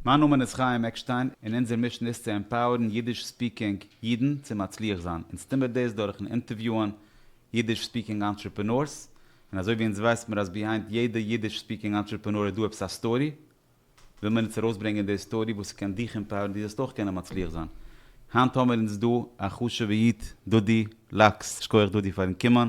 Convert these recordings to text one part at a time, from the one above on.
מיין נאמען איז חיים עקשטיין און אונזער מישן איז צו עמפאוערן אידיש ספיקינג אידן צו מצליח זיין. אונז טון מיר דאס דורכן אינטערוויוען אידיש ספיקינג אנטרעפענארס, און אזוי ווי אונז ווייסט מיר אז ביהיינד יעדע אידיש ספיקינג אנטרעפענאר איז דא עפעס א סטארי, וויל מיר אונז ארויסברענגען די סטארי וואס ס'קען דיך עמפאוערן דו זאלסט אויך קענען מצליח זיין. היינט האמיר אונז דא א חשוב'ע איד דודי לאקס, שכוח דודי פארן קומען,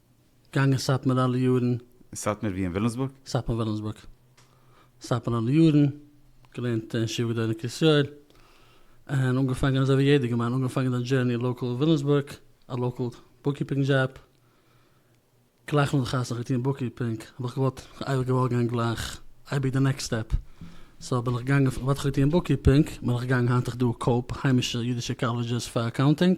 געגאנגען סאטמאר אלע יארן. אין סאטמאר ווי אין ווילימסבורג? סאטמאר ווילימסבורג. סאטמאר אלע יארן. געלערנט אין ישיבה גדולה אין קרית יואל. און אנגעפאנגען אזוי ווי יעדער געמיין אנגעפאנגען די דזשערני לאקעל ווילימסבורג. א לאקעל בוקקיפינג דזשאב. גלייך נאך די חתונה האב איך געטון בוקקיפינג. האב איך געוואלט אייביג געוואלט גיין גלייך אייביג די נעקסט סטעפ. סאו בין איך געגאנגען פון וואט איך האב געטון בוקקיפינג בין איך געגאנגען היינט איך דא קאופ היימישע אידישע קאלעדזשעס פאר אקאונטינג.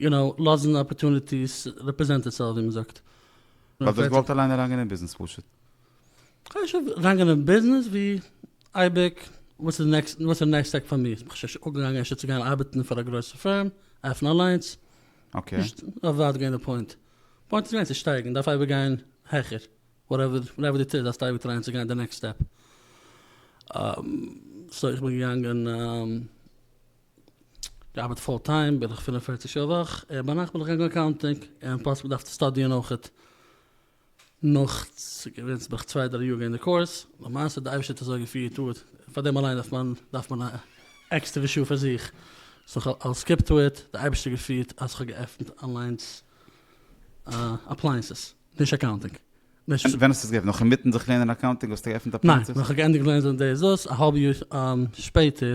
יו נאו, לאזן אפערטוניטיס רעפרעזענט איטסעלף ווי מ'זאגט. ווייל דאס געוואלט אליין אריינגיין אין ביזנעס פשוט. חשוב אריינגיין אין ביזנעס ווי אייביג וואס איז נעקסט וואס איז נעקסט סטעק פאר מיר איך שוין אנגעגאנגען אפשר צו גיין ארבעטן פאר א גרויסע פירם עפענען אליינס אקעי. נישט אווער גיין די פוינט פוינט איז געווען צו שטייגן דארף אייביג גיין העכער וואטעווער וואטעווער די טוט דארפסט אייביג טרייען צו גיין די נעקסט סטעפ סאו איך בין געגאנגען. געארבעט פול טיים בערך פֿינף און פֿערציק שעה א וואך, און ביינאכט בין איך געגאנגען אקאונטינג, און פלאס געדארפט צו סטאדיען אויכעט נאך, ס'געווען ס'בין איך צוויי דריי יאר געווען אין די קורס, למעשה די אייבערשטער האט אזוי געפירט אט פאר דעם אליין דארף מען דארף מען א עקסטערווע שעה פאר זיך, סאו כ'האב סקיפט אט די אייבערשטער געפירט אז כ'האב געעפנט אליינס א אפלייענסעס, נישט אקאונטינג. ווען האסטו עס געעפנט? נאך אינמיטן זיך לערנען אקאונטינג האסטו געעפנט אפלייענסעס? ניין, נאך כ'האב געענדיגט לערנען דאס האלב יאר שפעטער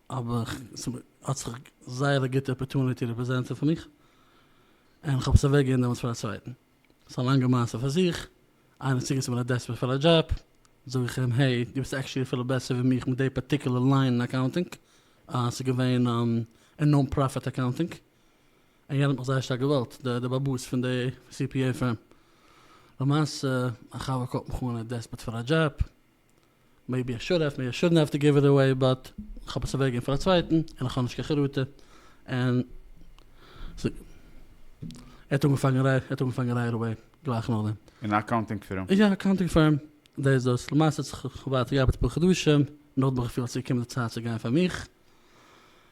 אבער ס'האט זיך זייער א גוטע אפערטוניטי רעפרעזענטעד פאר מיך, און כ'האב עס אוועק געגעבן דעמאלטס פאר א צווייטן. ס'איז א לאנגע מעשה פאר זיך. איינער האט צוגעזאגט מיר א דעספערעט פאר א דזשאב, זאג איך אים העי, דו ביסט עקטשעלי אפילו בעסער ווי מיך מיט די פארטיקולער ליין אין אקאונטינג, אה, ס'איז געווען אין נאן פראפיט אקאונטינג, און יענער האט מיך זייער שטארק געוואלט, די די באבוס פון די סי פי עי פירם. למעשה, א חבר קאלט מיך אן ער איז דעספערעט פאר א דזשאב. מעיבי איך שוד העוו, מעיבי איך שודנט העוו טו גיוו איט עוועי באט כ'האב עס אוועקגעגעבן פאר א צווייטן און איך האב נישט קיין חרטה און ס'איז ער האט אנגעפאנגען רייט ער האט אנגעפאנגען רייט עוועי גלייך נאכדעם. אין א אקאונטינג פירם? יא אקאונטינג פירם דער איז דאס למעשה האט זיך ווייטער געארבעט אפאר חדשים נאכדעם האב איך געפילט אז ס'איז געקומען די צייט צו גיין פאר מיך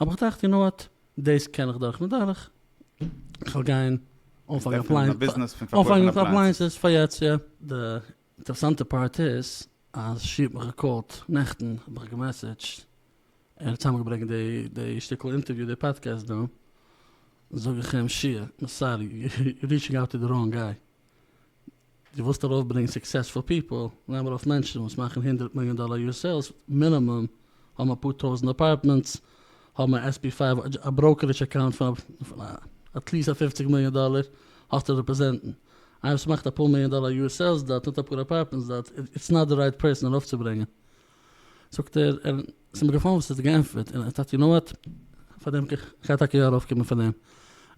האב איך געטראכט, יו נאו וואט, דאס קען איך דורך מדורך, כ'וועל גיין אנפאנגען מיט אפלייענסעס פאר יעצט, יא. די אינטערעסאנטע פארט איז אז שי האט מיך געקאלט נעכטן, האט מיך געמעסעדזשט, ער האט צוזאמגעברענגט די שטיקל אינטערוויו, די פאדקעסט דא, זאג איך אים, שי, סארי, יו ריטשינג אוט טו די ראנג גיי, דו ווילסט ארויפברענגען סוקסעספול פיפעל, נעם ארויף מענטשן וואס מאכן הונדרעט מיליאן דאלער יאר סעילס מינימום, האבן אפאר טויזענט עפארטמענטס, האבן א עס פי פֿינף, א בראוקערידזש אקאונט פון עטליעסט א פֿופֿציק מיליאן דאלער, האסטו רעפרעזענטן. איינער וואס מאכט אפאר מיליאן דאלער יאר סעילס דארט, האט אפאר עפארטמענטס דארט, איטס נאט די רייט פערסאן ארויפצוברענגען. זאגט ער, ער ס'איז מיר געפאלן וואס ער האט געענטפערט, און ער טענה'ט יו נאו וואט, פארדעם קען איך טאקע יא ארויפקומען פאר דעם,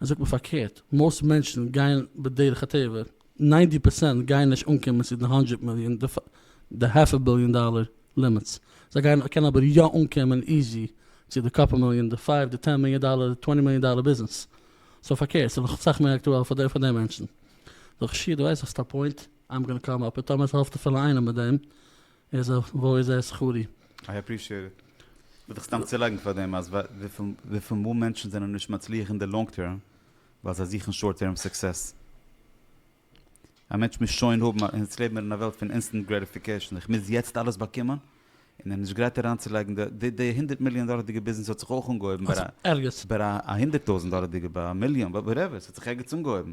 ער זאגט מיר פארקערט, מאוסט מענטשן גייען בדרך הטבע, ניינטי פערסענט גייען נישט אנקומען צו די האנדרעט מיליאן, די האלף א ביליאן דאלער לימיטס, זיי גייען קענען אבער יא אנקומען איזי צו די קאפל מיליאן, די פייוו, די טען מיליאן דאלער, די טווענטי מיליאן דאלער ביזנעס, סאו פארקערט, ס'איז נאך אסאך מער אקטועל פאר די מענטשן. זאג איך, שיעור דו ווייסט האסט א פוינט, איים גאנא קאם אפ איט, טאמער ס'העלפט אפילו איינעם מיט דעם, איז אויף וואו איז ער שכרי? איי אפרישיעט איט. וויל דיך סתם צולייגן פאר דעם אז וויפיל מאל מענטשן זענען נישט מצליח אין די לאנג טערם ווייל זיי זוכן שארט טערם סוקסעס. א מענטש מוז שוין האבן א, אונז לעבן מיר אין א וועלט פון אינסטענט גרעטיפיקעישן, איך מוז יעצט אלעס באקומען, און ער איז נישט גרייט אריינצולייגן די, די הונדערט מיליאן דאלערדיגע ביזנעס האט זיך אויך אנגעהויבן ביי א, ביי א הונדערט טויזנט דאלערדיגע, ביי א מיליאן, וואטעווער, ס'האט זיך ערגעץ אנגעהויבן.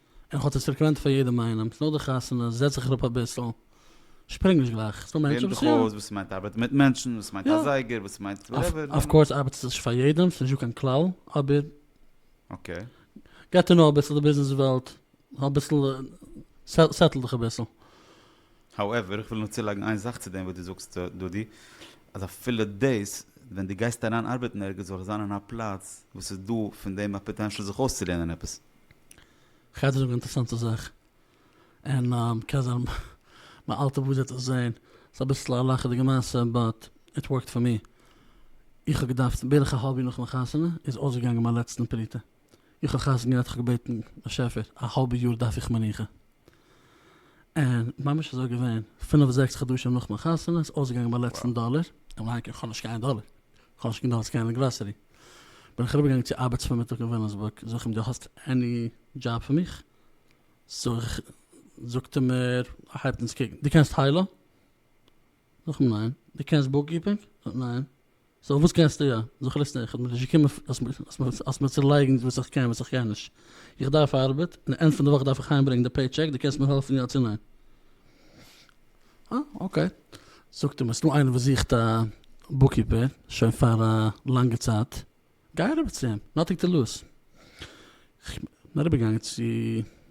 און איך האב צו סעקרעמענטא פאר יעדעם איינעם, נאך די חתונה זעץ איך אראפ אביסל, שפרינג נישט גלייך, ס'דא מענטשן וואס יא. לערן זיך אויס וואס ס'מיינט ארבעטן מיט מענטשן, וואס ס'מיינט א זייגער, וואס ס'מיינט וואטעווער. אף קאורס ארבעט עס נישט פאר יעדעם, ס'נישט דא קיין כלל, אבער. אקעי. געט טו נאו אביסל די ביזנעס וועלט, אביסל סעטל דיך אביסל. האועווער, איך וויל נאר צולייגן איין זאך צו דעם וואס דו זאגסט דודי, אז אפילו דאס, ווען דו גייסט אריין ארבעטן ערגעץ זאל עס זיין אין א פלאץ וואס ס'איז דא פון דעם א פאטענשאל זיך אויסצולערנען עפעס. כ'הער דיר זאגן א אינטערעסאנטע זאך, און קען זיין מיין אלטע באס וועט עס זען, ס'איז אביסל א לאכעדיגע מעשה באט איט ווארקט פאר מיר, איך האב געדארפט בערך א האלב יאר נאך מיין חתונה איז אויסגעגאנגען מיין לעצטן פרוטה, איך האב חתונה געהאט, איך האב געבעטן באשעפער א האלבע יאר דארף איך מנוחה, און ממש אזוי געווען, פינף זעקס חדשים נאך מיין חתונה איז אויסגעגאנגען מיין לעצטן דאלער, און מיין איינקום, כ'האב נישט קיין דאלער, כ'האב נישט גענוג אז גיין אין גראסערי, בין איך אריבער געגאנגען צו ארבעטס פארמיטאג אין וויליאמסבורג, זאג איך אים דו האסט עני דזשאב פאר מיך? זאג איך, זאגט ער מיר, ער הייבט אונז קוקן, דו קענסט היילו? נאכן ניין, די קענסט בוקקיפינג? ניין. סאו וואס קענסטו יא? זיך ליסטען, איך בין נישט געקומען אז מיר צולייגן וואס איך קען וואס איך קען נישט. איך דארף ארבעט, און די ענד פון די וואך דארף איך אהיים ברענגן די פעי טשעק, די קענסט מיר העלפן יא צו ניין? אה אקעי. זאגט אים עס איז דא איינער וואס זוכט א בוקקיפער שוין פאר א לאנגע צייט, גיי אריבער צו אים, נאטיג די לאז. כ'בין אריבערגעגאנגען צו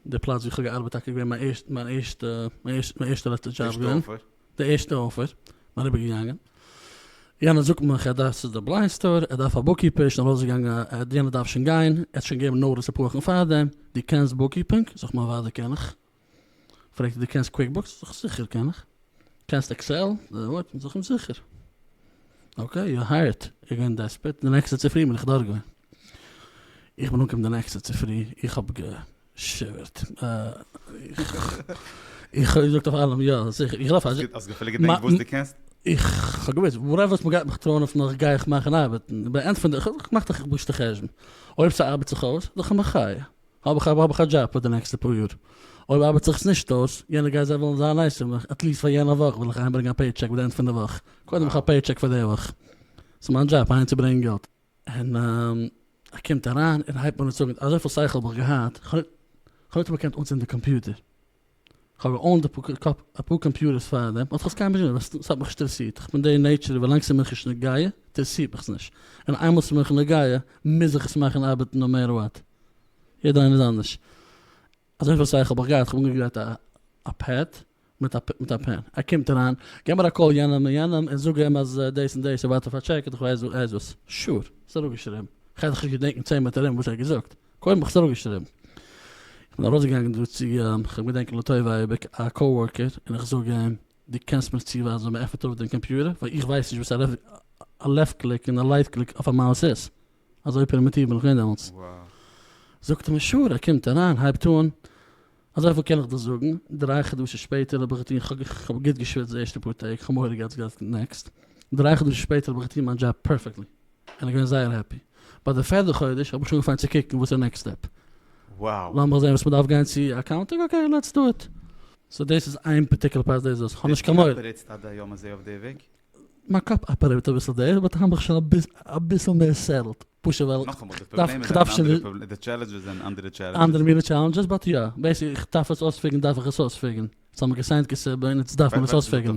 די פלאץ וואו כ'האב געארבעט טאקע געווען מיין ערשטע מיין ערשטע מיין ערשטע לעצטע דזשאב ערשטע געווען אפער. די ערשטע אפער, כ'בין אריבערגעגאנגען, יענער זאגט מיך ער דארף ס'איז די בליינד סטאר, ער דארף א בוקקיפער, שנעל ארויסגעגאנגען, יענער דארף שוין גיין, ער האט שוין געגעבן נאטיס אפאר וואכן פארדעם, דו קענסט בוקקיפינג? זאג איך מיין ווייב די קען איך. פרעגט ער דו קענסט קוויקבוקס? זאג איך זיכער קען איך. קענסט עקסעל? ווארד? זאג איך זיכער. אקעי יו אר הייערט. ער איז געווען דעספערט. די נעקסטע צופרי בין איך דארט געווען. איך בין אנגעקומען די נעקסטע צופרי, איך האב געשיווערט. איך האב געזאגט אויף אלעם יא זיכער. איך לויף אזוי. האסט אפילו געדענקט וואס דו קענסט? איך האב געוואוסט וואטעווער וואס מען גייט מיך טראען אויף נאך גיי איך מאכן ארבעטן. איך בין ענטפערן די, איך האב געמאכט א חשבון. אויב ס'ארבעט זיך אויס, זאג איך מחיה. האב איך האב איך א דזשאב פאר די נעקסטע פאר יאר, אויב ארבעט זיך עס נישט אויס, יענע גייז זיי וועלן זיין נייס צו מיך, עטליסט פאר יענע וואך וועל איך אהיים ברענגען א פעי טשעק ביי די ענד פון די וואך, קודם איך האב א פעי טשעק פאר די וואך, ס'איז מיין דזשאב אהיים צו ברענגען געלט, און ער קומט אריין און הייבט אן צו זאגן אזויפיל שכל האב איך געהאט, כ'האב ניטאמאל געקענט אנצינדן די קאמפיוטער. כ'האב געאונט אפאר קאמפיוטערס פאר דעם, האט זיך קיינמאל נישט געדענקט, ס'האט מיך נישט אינטערעסירט, כ'בין די נעיטשער ווי לאנג ס'איז מיך נישט נוגע אינטערעסירט מיך עס נישט, און איינמאל ס'איז מיך נוגע מוז איך עס מאכן ארבעטן נאו מעטער וואט, יעדער איינער איז אנדערש, אזויפיל צייט האב איך געהאט, כ'האב אנגעגרייט א פעד מיט א פען, ער קומט אריין, גיב מיר א קאל יענעם און יענעם און זאג אים אז דאס און דאס און ווארט אויף א טשעק און כ'ווייס וואס, שור, ס'אראפגעשריבן, כ'על זיך נישט געדענקן צען מאל מיט ארום וואס ער האט געזאגט. קוים האב איך עס אראפגעשריבן, איך בין ארויסגעגאנגען דא צו גיין, כ'האב געדענקט לטובה אייביג א קאווארקער און איך זאג אים, דו קענסט מיר צואווייזן ווי מ'עפנט אויף דעם קאמפיוטער? ווייל איך ווייס נישט וואס א לעפט קליק און א רייט קליק אויף א מאוס איז. אזוי פרימיטיוו בין איך געווען דעמאלטס. זאגט ער מיר שור, ער קומט אריין, הייבט אן, אזויפיל קען איך דיר זאגן, דריי חדשים שפעטער האב איך געטון, כ'האב גוט געשוויצט די ערשטע פאר טעג, כ'האב מורא געהאט ס'גייט נעקסט, דריי חדשים שפעטער האב איך געטון מיין דזשאב פערפעקטלי, בין איך געווען זייער העפי. ביי די פערדע חודש האב איך שוין אנגעפאנגען צו קוקן וואס איז נעקסט סטעפ. לאמיך זעהן וואס מען דארף גיין צו אקאונטינג, אקעי לעטס דא איט. סאו דאס איז איין פארטיקולער פרייז דאס איז דאס, כ'האב נישט קיין מורא. ווער עטס עד היום הזה אויף די וועג? מיין קאפ אפערעיט אביסל דעיס באט האמעך שוין אביסל מער סעטעלד, פשוט ווייל כ'דארף שוין די טשעלענדזשעס זענען אנדערע טשעלענדזשעס. אנדערע מינע טשעלענדזשעס באט יא, בעיסיקלי איך דארף עס אויספיגערן דארף איך עס אויספיגערן, ס'האמער געסיינט כסדר און יעצט דארף מען עס אויספיגערן.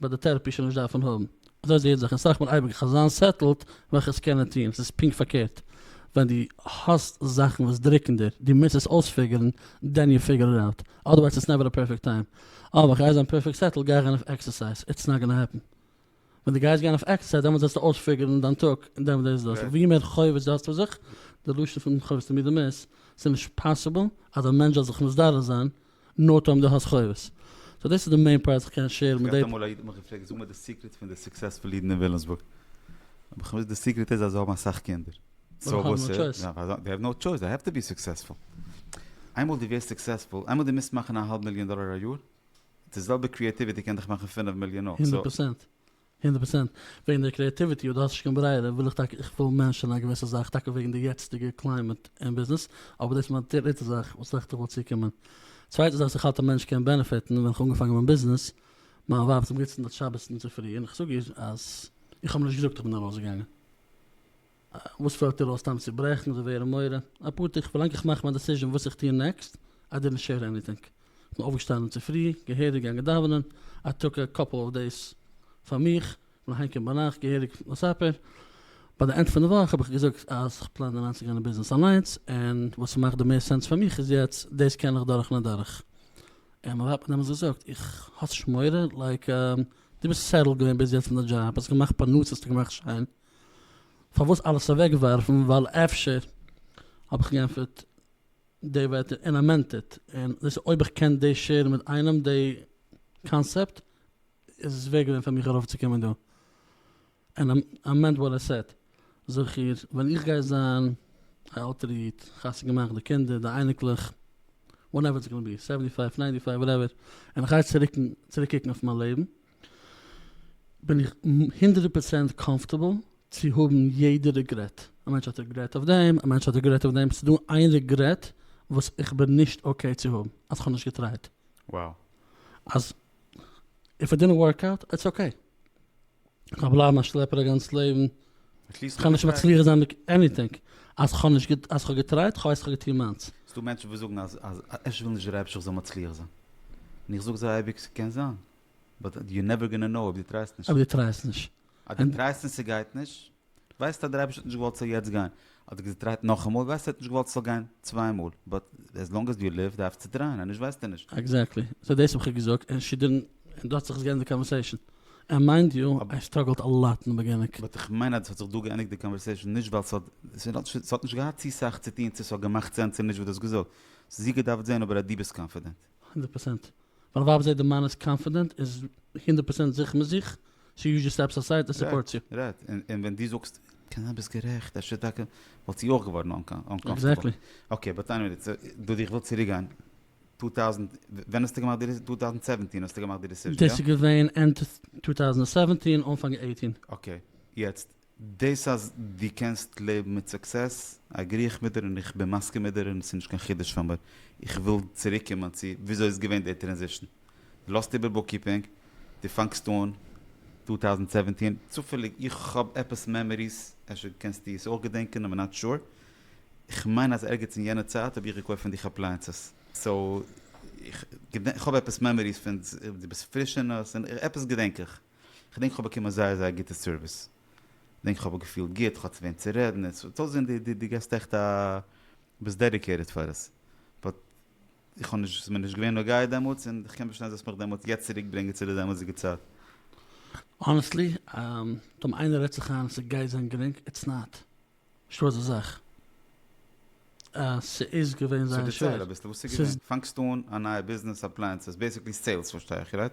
וועט די טערעפי שוין נישט דארפן האבן. אזוי זעהט זיך און סאך מאל אייביג כ'זאל זיין סעטלד וועל איך עס קענען טוהן, ס'איז פונקט פארקערט ווען דו האסט זאכן וואס דרוקן דיר, דו מוזט עס אויספיגערן דען יו פיגער איט אוט, אדערווייז איטס נעווער א פערפעקט טיים, אה ווען כ'גיי זיין פערפעקט סעטלד גיי איך גיין אויף עקסערסייז, איטס נאט גאנא העפן, ווען דו גייסט גיין אויף עקסערסייז דעמאלטס זעסטו אויספיגערן דיין טאג און דעמאלטס דאס איז דאס, ווי מער חובות דו האסט אויף זיך, די לשון פון חובות תמיד אמת, ס'איז נישט פאסיבל אז א מענטש זאל זיך מסדר זיין נאו טיים דו האסט חובות. סאו דאס איז די מעין פארט איך קען שעירן מיט די. געהאט אמאל א איד האט מיך געפרעגט זאג מיר די סיקרעט פון די סוקסעספול אידן אין וויליאמסבורג. האב איך אים געזאגט די סיקרעט איז אז זיי האבן אסאך קינדער. סאו וואס איז. זיי האבן נאו טשויס זיי העוו טו בי סוקסעספול. איינמאל דו ווערסט סוקסעספול איינמאל דו מוזט מאכן א האלב מיליאן דאלער א יאר. די זעלבע קריעטיוויטי קען דיך מאכן פינף מיליאן אויך. הונדערט פראצענט. הונדערט פראצענט. וועגן די קריעטיוויטי אויב דו האסט נישט קיין ברירה וויל איך טאקע איך וויל מענטשען א געוויסע זאך טאקע וועגן די יעצטיגע קליימעט אין ביזנעס אבער דאס איז מיין דריטע זאך וואס איך וויל צוקומען. צווייטע זאך וואס איך האלט א מענטש קען בענעפיטן ווען איך האב אנגעפאנגען מיין ביזנעס מיין ווייב האט אמגעצינדעט שבת אינצופרי און איך זאג איר אז איך האב נישט געזאגט איך בין ארויסגעגאנגען. וואס פעלט דיר אויס סתם צו ברעכן זיי ווערן מורה אפאר טעג פארלאנג איך מאך מיין דעסיזשען וואס איך טוה נעקסט איי דידנט שעיר עניטינג איך בין אויפגעשטאנען צופרי געהעריג געגאנגען דאווענען איי טאק א קאפל אוו דעיס פאר מיך איך בין אהיימקומען ביינאכט געהעריג מספר ביי די ענד פון די וואך האב איך געזאגט אז איך פלאן אריינצוגיין אין ביזנעס אליינס און וואס ס'מאכט די מערסט סענס פאר מיך איז יעצט דעיס קען איך דורכן און דורך און מיין ווייב האט דעמאלטס געזאגט איך האסט נישט מורא לייק דו ביסט סעטעלד געווען ביז יעצט אין די דזשאב האסט געמאכט פרנסה האסט געמאכט שיין פארוואס אלעס אוועקווארפן ווייל אפשר האב איך גענטפערט די ווערטער אין א מענטעט און דאס איז אויב איך קען דאס שערן מיט איינעם די קאנסעפט איז עס ווערט געווען פאר מיך ארויף צו קומען דא און אמענד וואט איי סעד זכור ווען איך גיי זיין א עלטערע איד חתונה געמאכט די קינדער די אייניקלעך וואטעווער איטס גאנא בי סעווענטי פייוו ניינטי פייוו וואטעווער און איך גיי צוריק קוקן אויף מיין לעבן. בין איך הונדרעט פראצענט קאמפארטעבל צו האבן יעדע ריגרעט, א מענטש האט ריגרעט אויף דעם, א מענטש האט ריגרעט אויף דעם, ס'דא איין ריגרעט וואס איך בין נישט אקעי צו האבן, אז כ'האב נישט געטרייט. Wow. אז איף איט דידנט ווארק אוט, איטס אקעי. כ'גייל בלייבן א שלעפער א גאנץ לעבן, עטליסט כ'וועל נישט מצליח זיין מיט עניטינג, אז כ'האב נישט געט אז כ'האב געטרייט, כ'ווייס כ'האב געטון מיינס. ס'דא מענטשן וואס זאגן אז אז אפשר וויל נישט דער אייבערשטער כ'זאל מצליח זיין. און איך זאג זיי אייביג ס'קען זיין. באט יו נעווער גאנא נאו אויב דו טרייסט נישט. אויב דו טרייסט נישט. אז דו טרייסט און ס'גייט נישט, ווייסטו אז דער אייבערשטער האט נישט געוואלט ס'זאל יעצט גיין. אז דו געטרייט נאכאמאל, ווייסטו ער האט נישט געוואלט ס'זאל גיין צוויי מאל. באט עז לאנג עז יו ליוו דארפסטו טרייען, אנישט ווייסטו נישט. עקזעקטלי. סאו דאס האב איך געזאגט און שי דידנט, און דא האט זיך עס געענדיגט די קאנווערסעישאן. און מיינד יו, איי סטראגעלד א לאט אין די בעגינונג. באט איך מיין אז עס האט זיך דא געענדיגט די קאנווערסעישאן נישט ווייל ס'האט, ס'האט נישט געהאט צו סאך צו טון צו ס'האט געמאכט סענס צו נישט וואס דו האסט געזאגט. ס'איז איר געדארפט זען אבער אז דו ביסט קאנפידענט. הונדערט פארצענט. ווייל ווייב זעהט די מאן איז קאנפידענט איז הונדערט פארצענט זיכער מיט זיך, סאו יו זשאסט סטעפס אסייד און סופארטס יו. רייט, און ווען דו זאגסט קענען ביסט גערעכט אפשר טאקע וואלט זי אויך געווארן אנקאנפידענט. עקזעקטלי. אקעי באט עניוועי דיס דאס איך וויל צוריק גיין טו טאוזענט ווען האסטו געמאכט די דיס טו טאוזענט סעווענטין האסטו געמאכט די דיסיזשען יא? דאס איז געווען ענד טו טאוזענט סעווענטין אנפאנג עיטין. אקעי יעצט דאס אז דו קענסט לעבן מיט סוקסעס אגרי איך מיט דיר און איך בין מסכים מיט דיר און עס איז נישט קיין חידוש פאר מיר, איך וויל צוריק קומען צו וויאזוי איז געווען די טרענזישן, דו לאזט איבער בוקקיפינג, דו פאנגסט אן טו טאוזענד סעווענטין, צופעליג איך האב עפעס מעמאריס, אפשר קענסטו עס אויך געדענקען אבער נאט שור, איך מיין אז ערגעץ אין יענע צייט האב איך געקויפט פון דיך אפלייענסעס, סאו איך האב עפעס מעמאריס פון דו ביסט פריש אין עס, עפעס געדענק איך. כ'דענק כ'האב באקומען זייער זייער גוטע סערוויס, כ'דענק כ'האב מיך געפילט גוט, כ'האט צו וועם צו רעדן, עס האט אויסגעזען דו דו גייסט עכט א, דו ביסט דעדיקעיטעד פאר עס, באט איך האב נישט, עס איז מיר נישט געווען נוגע דעמאלטס, און איך קען פארשטיין אז דו האסט מיך דעמאלטס יעצט צוריק ברענגען צו די דעמאלטסדיגע צייט. האנעסטלי, טאמער איינער רעדט זיך איין אז ס'גייט זיין גרינג, איטס נאט. נישטא אזא זאך. ס'איז געווען זייער שווער. סאו דערצייל אביסל וואס ס'איז געווען. פאנגסט אן א נייע ביזנעס, אפלייענסעס, בעיסיקלי סעילס פארשטיי איך רייט?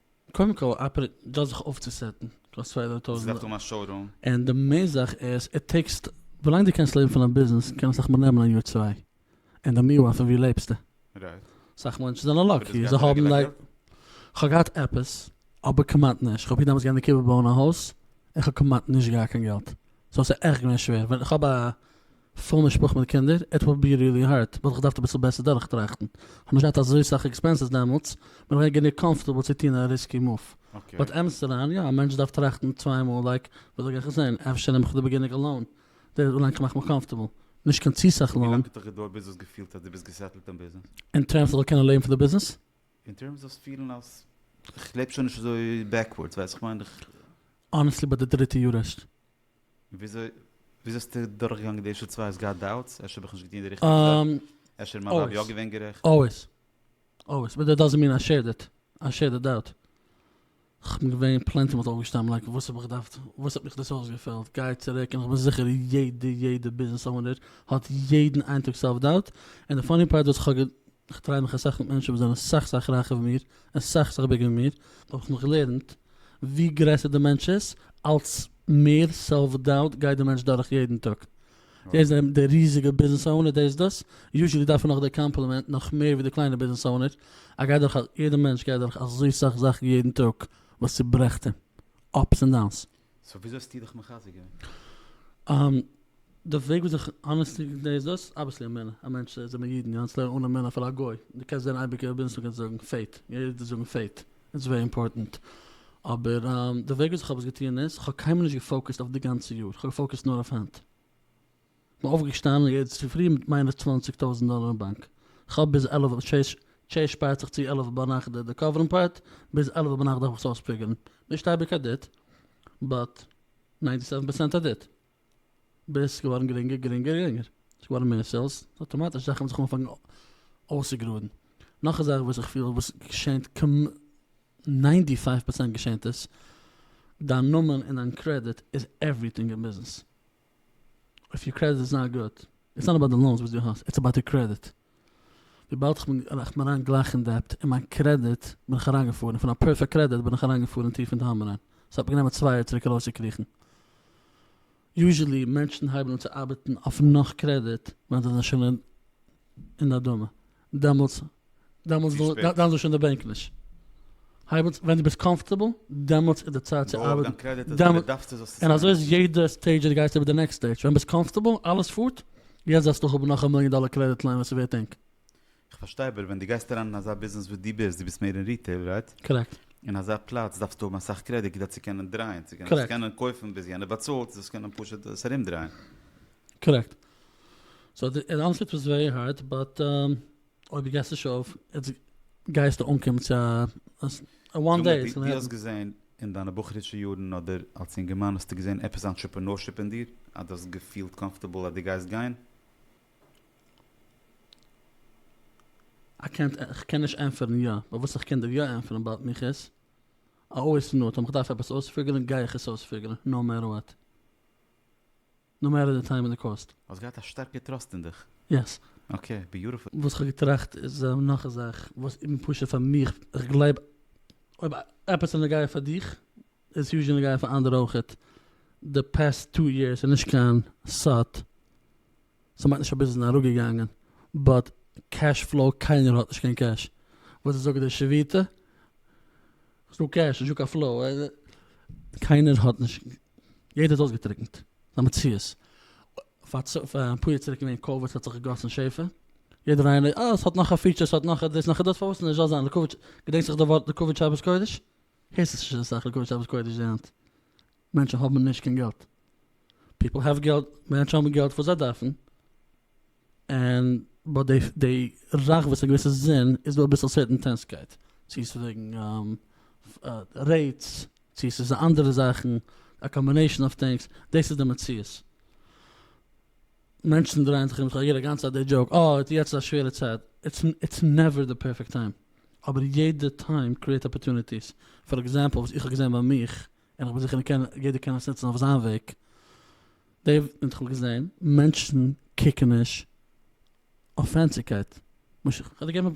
קודם כל אפערעיט דאס זיך אויפצוסעטן קאסט צוויי הונדערט טויזענט דאלער. עס דארף האבן א שאורום. און די מעין זאך איז איט טעיקס ווילאנג די קענסט לעבן פון דיין ביזנעס קען עס אסאך מאל נעמען א יאר צוויי און די מי וואן פון ווי לעבסטו. רייט. סאך מענטשן זענען אבער לאקי דאס זיי גייט האבן רעגולער לייק. געלט? כ'האב געהאט עפעס, אבער כמעט נישט. כ'האב פיר דעמאלטס געהאט אין די קובה בויען א הויז, און כ'האב כמעט נישט געהאט קיין געלט. סאו ס'איז עכט געווען שווער. ווען כ'האב א. פול משפחה מיט קינדער, איט וויל בי ריעלי הארד, וואלט איך געדארפט אביסל בעסער דורכטראכטן, כ'האב נישט געהאט אזוי סאך עקספענסעס דעמאלטס, בין איך געווען גענוג קאמפארטעבל צו טון א ריסקי מאוו. באט אמת'דיין, יא, א מענטש דארף טראכטן צוויי מאל לייק, וויאזוי גיי איך עס זען, אפשר נעם איך דער בעגינער לאון, דער איז אנלייק כ'מאך מיר קאמפארטעבל, נישט קיין צו סאך לאון. ווילאנג האט דיך די דור ביזנעס געפילט אז דו ביסט געסעטלט אין ביזנעס? אין טערמס איך זאל קענען לעבן פון די ביזנעס? אין טערמס זאלסט פילן אז איך לעב שוין נישט אזוי בעקווארדס, ווייסט וואס כ'מיין? אנעסטלי ביי די דריטע יאר ערשט. וויאזוי האסטו דורכגעגאנגען די ערשטע צוויי? האסט געהאט דאוטס? אפשר האב איך נישט געטון די ריכטיגע זאך? אפשר איז מיין ווייב יא געווען גערעכט? אלוועיס, אלוועיס, באט דעט דאזענט מין איי שעיר דעט, איי שעיר דעט דאוט. כ'בין געווען פלענטי מאל אויפגעשטאנען לייק וואס האב איך געדארפט? וואס האט מיך דאס אויסגעפעלט? גיי צוריק, און כ'בין זיכער יעדע יעדע ביזנעס אונער האט יעדן איין טאג סעלף דאוט, און די פאני פארט וואס כ'האב, כ'דריי מיך אסאך מיט מענטשן וואס זענען סאך סאך רייכער ווי מיר, אסאך זיך באגעגנט מיר, האב איך נאך געלערנט ווי גרעסער די מענטש איז, אלץ מער סעלף דאוט גייט די מענטש דורך יעדן טאג. דער איז די ריזיגע ביזנעס אונער, דער איז דאס, יוזשעלי דארף ער נאך די קאמפלימענט נאך מער ווי די קליינע ביזנעס אונער. ער גייט דורך, יעדער מענטש גייט דורך אזוי סאך זאכן יעדן טאג וואס צוברעכט אים, אפס און דאונס. סאו וויאזוי האסטו דיך מחזק געווען? די וועג וויאזוי איך אנערסטענד דאס איז דאס, אבוויעסלי אמונה, א מענטש זענען מיר אידן, יענץ לערנט אן אמונה אפילו א גוי, דו קענסט זען אייביג אויב ביזטו קענסט זאגן פעיט, אידן זאגן פעיט, איטס ווערי אימפארטענט, אבער די וועג וויאזוי איך האב עס געטון איז, איך האב קיינמאל נישט געפאוקעסט אויף די גאנצע יאר, איך האב געפאוקעסט נאר אויף היינט. כ'בין אויפגעשטאנען יעצט צופרי מיט מיינע צוואַנציק טויזנט דאלער אין באנק, כ'האב ביז עלף אויף טשעיס, טשעיס שפארט זיך צו עלף ביינאכט די דעקאווערן פארט, ביז עלף ביינאכט דארף איך עס אויספיגערן, נישט אייביג א דעט, באט ניינטי סעווען פערסענט א דעט, ביז ס'איז געווארן גרינגער גרינגער גרינגער, ס'איז געווארן מער סעילס, אטאמאטיש זאכן האבן זיך אנגעפאנגן אויסצוגראדן, נאך א זאך וואס איך פיל וואס געשענט כמ ניינטי פייוו פערסענט געשענט עס, דיין נאמען און דיין קרעדיט איז עווריטינג אין ביזנעס. אויף יור קרעדיט איז זייער גוט, איטס נאט אבאוט די לאונס וואס דו האסט, איטס אבאוט יור קרעדיט, וויבאלד איך בין אריין גלייך אין דעבט און מיין קרעדיט בין איך אריינגעפארן און פון א פערפעקט קרעדיט בין איך אריינגעפארן טיף אין תהום אריין, ס'האט מיר גענומען צוויי יאר צוריק ארויסצוקריכן. יוזשעלי מענטשן הייבן אן צו ארבעטן אויף נאך קרעדיט ווען זיי זענען שוין אין די אדמה, דעמאלטס דעמאלטס צו שפעט. דאן זאגסטו שוין די בענק נישט. הייב אן ווען דו ביסט קאמפארטעבל, דעמאלטס איז די צייט צו בויעו אויף דיין ארבעטן. קרעדיט אז ווען דעמאלט דו דארפסט עס זאלסטו עס און אזוי איז נעמען. יעדע סטעידזש דו גייסט איבער די נעקסט סטעידזש. ווען ביסט קאמפארטעבל, אלעס פארט, יעצט זאלסטו האבן נאך א מיליאן דאלער קרעדיט ליין וואס איז ווערט ענק. איך פארשטיי אבער ווען דו גייסט אריין אין אזא ביזנעס וואס דו ביסט, דו ביסט מער אין ריטעיל, רייט? קארעקט. אין אזא פלאץ דארפסטו האבן אסאך קרעדיט כדי צו קענען דרייען, צו קענען קארעקט. קענען קויפן ביז יענער באצאלט, דאס קענען פשוט עס ארומדרייען. קארעקט. סאו די ענטפער איז ווערי הארד באט אויב די געסט נישט אויף גייסטו אנקומען צו א וואן דעי איטס גאנא העפן. דו האסט געזען אין דיינע בחור'ישע יארן אדער אלס אינגערמאן האסטו געזען עפעס אנטשעפענארשיפ אין דיר אז דו האסט געפילט קאמפארטעבל אז דו גייסט גיין? איך קען נישט ענטפערן יא, באט וואס איך קען דיר יא ענטפערן באט מיך איז א אויסנאר טאמער איך דארף עפעס אויספיגערן גיי איך עס אויספיגערן נאו מעטער וואט. נאו מעטער די טיים און די קאסט. האסט געהאט א שטארקע טראסט אין דיך. יעס. אקעי, ביוטיפול. וואס כ'האב געטראכט איז נאך א זאך וואס איבן פשוט פאר מיך, איך גלייב אויב עפעס איז נוגע פאר דיך איז עס יוזשעלי נוגע פאר אנדערע אויכעט, די פעסט טו יערס איז נישט קיין סוד, ס'מיינט נישט אז ביזנעס איז אראפגעגאנגען, באט קעש פלאו, קיינער האט נישט קיין קעש, וואס איז זאגט די שביתה? ס'דא קעש, נישטא קיין פלאו, קיינער האט נישט יעדער איז אויסגעטריקנט, ס'איז א מציאות. אפאר יאר צוריק איז געווען קאוויד ס'האט זיך געגאסן שפע, יעדער איינער אה ס'האט נאך א פיטשער ס'האט נאך א דאס נאך א דאס פארוואס נישט זאל זיין לעיקוואד, געדענקסט זיך די ווארט לעיקוואד שבת קודש? הערסט עס נישט אסאך לעיקוואד שבת קודש די היינט, מענטשן האבן נישט קיין געלט, פיפל העוו געלט, מענטשן האבן געלט וואס זיי דארפן, און ביי די די זאך וואס א געוויסע זון איז דא אביסל סערטענטענסקייט צו עס איז וועגן רעיטס צו עס איז אנדערע זאכן א קאמבינעישן אוו טינגס דאס איז די מציאות מענטשן דרייען זיך ארום כ'הער א גאנצע אדער דזשאוק אה יעצט איז א שווערע צייט איטס איטס נעווער די פערפעקט טיים אבער יעדע טיים קריעט אפערטוניטיס פאר עקזעמפל וואס איך האב געזען ביי מיך און כ'בין זיכער מ'קען יעדער קען עס נוצן אויף זיין וועג. די וועט איך האב געזען מענטשן קוקן נישט אויף פענסיגקייט. משא כ כ'וועל דיר געבן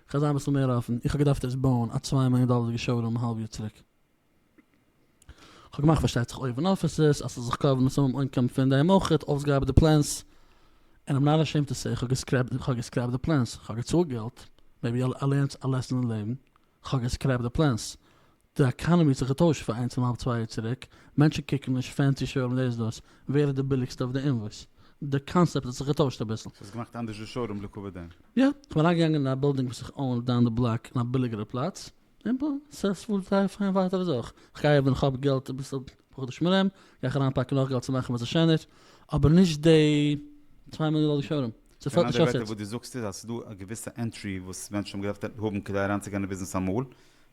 כ'וועל זיין אביסל מער אפן, איך האב געדארפט דאס בויען א צוויי מיליאן דאלערדיגע שאו רום א האלב יאר צוריק. כ'האב געמאכט פארשטייט זיך אויבן אפיסעס אז ס'זאל זיך קאווערן מיט סאמע אינקאם פון דעם אויך, אויסגעארבעט די פלענס, און א מנהל השם תעשה, כ'האב געסקרעפט כ'האב געסקרעפט די פלענס, כ'האב געצאלט געלט, מעיבי ער לערנט א לעסן אין לעבן. כ'האב געסקרעפט די פלענס. די עקאנעמי האט זיך געטוישט פון איינס און האלב צוויי יאר צוריק. מענטשן קוקן נישט פענסי שוירום דעיס דאס, ווער איז די ביליגסטע אויף די אינוואויס. די קאנסעפט האט זיך געטוישט אביסל. ס'האט זיך געמאכט אנדערש די שוירום לטובת דעם. יא, כ'בין אריינגעגאנגען אין א בילדינג וואס איך אוין דאון די בלאק אין א ביליגערע פלאץ, און בום, ס'פארט זייער פיין ווייטער אזוי אויך. כ'גיי ווען כ'האב געלט אביסל בחודש מרים, גיי איך אריינפאקן נאך געלט צו מאכן וואס ס'שענער, אבער נישט די צוויי מיליאן דאלער שוירום. דאס האט נישט אויף וואס דו זאגסט איז אז ס'איז דא א געוויסע ענטרי וואס מענטשן האבן געדארפט האבן כדי אריינצוגיין אין ביזנעס אמאל,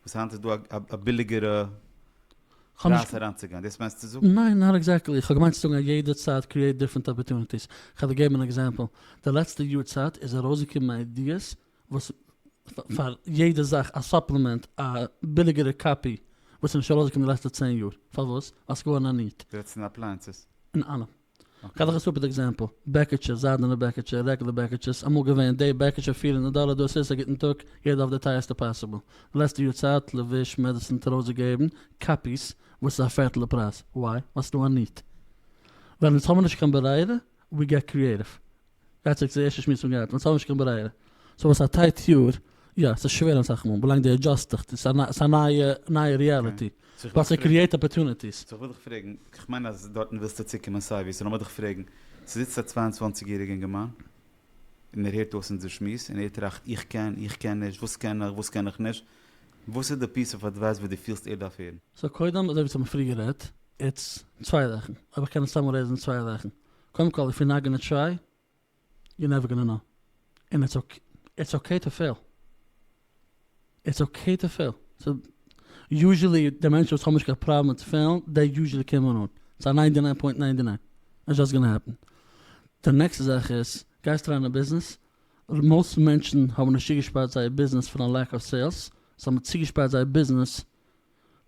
וואס היינט איז דא א ביליגערע פרייז אריינצוגיין, דאס מיינסטו צו זאגן? ניין, נאט עקזעקטלי, איך האב געמיינט צו זאגן אז יעדע צייט קריעט דיפרענט אפערטוניטיס, איך וועל דיר געבן אן עקזעמפל, די לעצטע יאר צייט איז ארויסגעקומען איידיעס וואס פאר יעדע זאך א סאפלעמענט א ביליגערע קאפי וואס איז נישט ארויסגעקומען די לעצטע צען יאר, פארוואס? ווייל ס'איז געווארן א ניעד. דו רעדסט אין אפלייענסעס? אין אלעם. כ'האב דאך א סופער עקזעמפל, בעקיטשע, זיידענע בעקיטשע, רעגלער בעקיטשעס, אמאל געווען, די בעקיטשע פֿיר הונדערט דאלער, דא סאיז א גוטן טאג, יעדער אויף די טייערסטע פאסיבל, די לעצטע יאר צייט, לבוש, מעדעסין, טרויס געגעבן, קאפיס, וואס איז א פערטל די פרייז, וויי? ווייל ס'דא א ניד. ווען אונז האבן נישט קיין ברירה, ווי געט קריעטיוו. גייט צוריק צו די ערשטע שמועס פון גייט ווען ס'האט נישט קיין ברירה סאו וואס א טייט יאר יא ס'איז שווער אסאך מאל ווילאנג די אדזשאסט דיך ס'איז א ס'איז א נייע נייע ריעליטי ווייל ס'קריעט אפערטוניטיס. סאו כ'וויל דיך פרעגן, כ'מיין אז דארטן ווילסטו צוקומען סייווי, סאו לאמיר דיך פרעגן, ס'זיצט א צוויי און צוואַנציק יעריגע אינגערמאן און ער הערט אויס אונזער שמועס און ער טראכט איך קען, איך קען נישט, וואס קען איך, וואס קען איך נישט, וואס איז די פיס אוו אדווייס וואס דו פילסט ער דארף הערן? סאו קודם אזוי ווי צו האבן פריער גערעדט איטס צוויי זאכן אויב איך קען עס צוזאמען לעזן איז צוויי זאכן קודם כל איף יו נאט גאנא טריי יו נעווער גאנא נאו און איטס אקעי טו פעיל איטס אקעי טו פעיל יוזשעלי די מענטשן וואס האבן נישט קיין פראבלעם מיט פעלן די יוזשעלי קומען אן צו א ניינטי ניין פוינט ניינטי ניין איטס זשאסט גאנא העפן די נעקסטע זאך איז גייסט אריין אין ביזנעס מאסט מענטשן האבן נישט צוגעשפארט זייער ביזנעס פון א לעק אוו סעילס זיי האבן צוגעשפארט זייער ביזנעס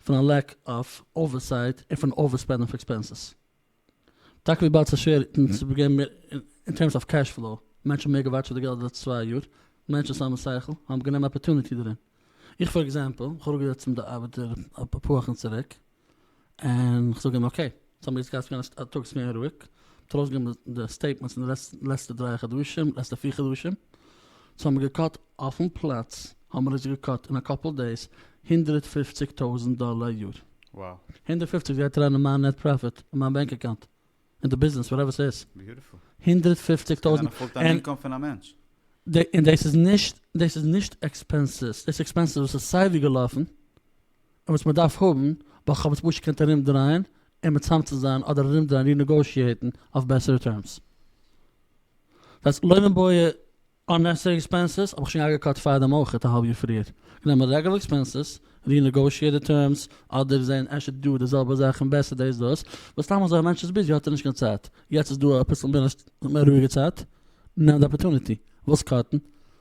פון א לעק אוו אווערסייט און פון אווער ספענדן אויף עקספענסעס. טאקע וויבאלד ס'איז שווער אונז צו געבן מער אין טערמס אוו קעש פלאו, מענטשן האבן מער געוואטשעט די געלט די לעצטע צוויי יאר, מענטשן וואס האבן שכל האבן גענומען אפערטוניטי דערין. איך פאר עקזעמפל, איך האב אראפגעזעצט צום די ארבעטער אפאר וואכן צוריק, און כ'זאג אים אקעי, סאו האמיר יעצט געהאט געווען א טאג וואס איז געווען רואיג, מ'האט ארויסגעגעבן די סטעיטמענטס אין די לעצטע דרײַ חדשים, לעצטע פיר חדשים, סאו האמיר געקאט אויפן פלאץ האמער עס געקאט אין א קאפל דעיס הונדרעט פופציג טויזענט דאלער א יאר. הונדרעט פופציג גייט אריין אין מיין נעט פראפיט אין מיין בענק אקאונט אין די ביזנעס וואטעווער סאיז. הונדרעט פופציג טויזענט. ס'קען זיין א פול טיים אינקאם פון א מענטש. און דאס איז נישט דאס איז נישט עקספענסעס דאס איז עקספענסעס וואס איז סייווי געלאפן און וואס מ'דארף האבן ווייל כ'האב עס פשוט געקענט ארומדרייען און מצמצם זיין אדער ארומדרייען רינעגאושיעיטן אויף בעסערע טערמס. דאס לוימענבויער אננעסעסערי עקספענסעס האב איך שוין אפגעקאט פארדעם אויך א האלב יאר פריער. גענומען רעגולער עקספענסעס, רינעגאושיעט די טערמס, אדער זען אפשר דא די זעלבע זאך און בעסער דאס דאס, ווייל סתם אזוי א מענטש איז ביזי האט ער נישט קיין צייט. יעצט איז דא אביסל מער רואיגע צייט, נעם די אפערטוניטי. ווילסט קאטן?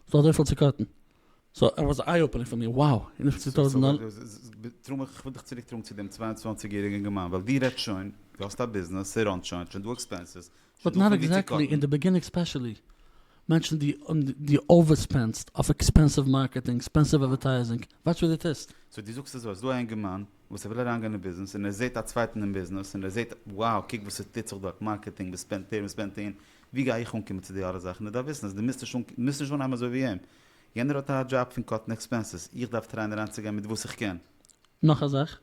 ס'דא אזויפיל צו קאטן. סאו ער וואס איי אופענינג פאר מיר, wow! און וויפיל צו טויזענט דאלער? טראמפ איך וויל דיך צוריקטראגן צו דעם צוויי און צוואַנציק יעריגן אינגערמאן ווייל דו רעדסט שוין, דו האסט א ביזנעס, ס'ראנט שוין, ס'שוין דא עקספענסעס, באט נאט עקזעקטלי אין די ביגינינג ספעשעלי מענטשן די די אווער ספענסט אויף עקספענסיוו מארקעטינג עקספענסיוו אדווערטייזינג וואטש וואט די טוסט. סאו די זאגסט אזוי, ס'איז דא א אינגערמאן וואס ער וויל אריינגיין אין ביזנעס און ער זעהט א צווייטן אין ביזנעס און ער זעהט wow קוק וואס עס טוט זיך דארט מארקעטינג וואס ספענדט ער וואס ספענדט אהן ווי גיי איך אנקומען צו די אלע זאכן ער דארף וויסן אז די מוזט נישט אנקומען מוזט נישט אנהייבן אזוי ווי אים יענער האט א דזשאב פון קאטן עקספענסעס איך דארף טרייען אריינצוגיין מיט וואס איך קען. נאך א זאך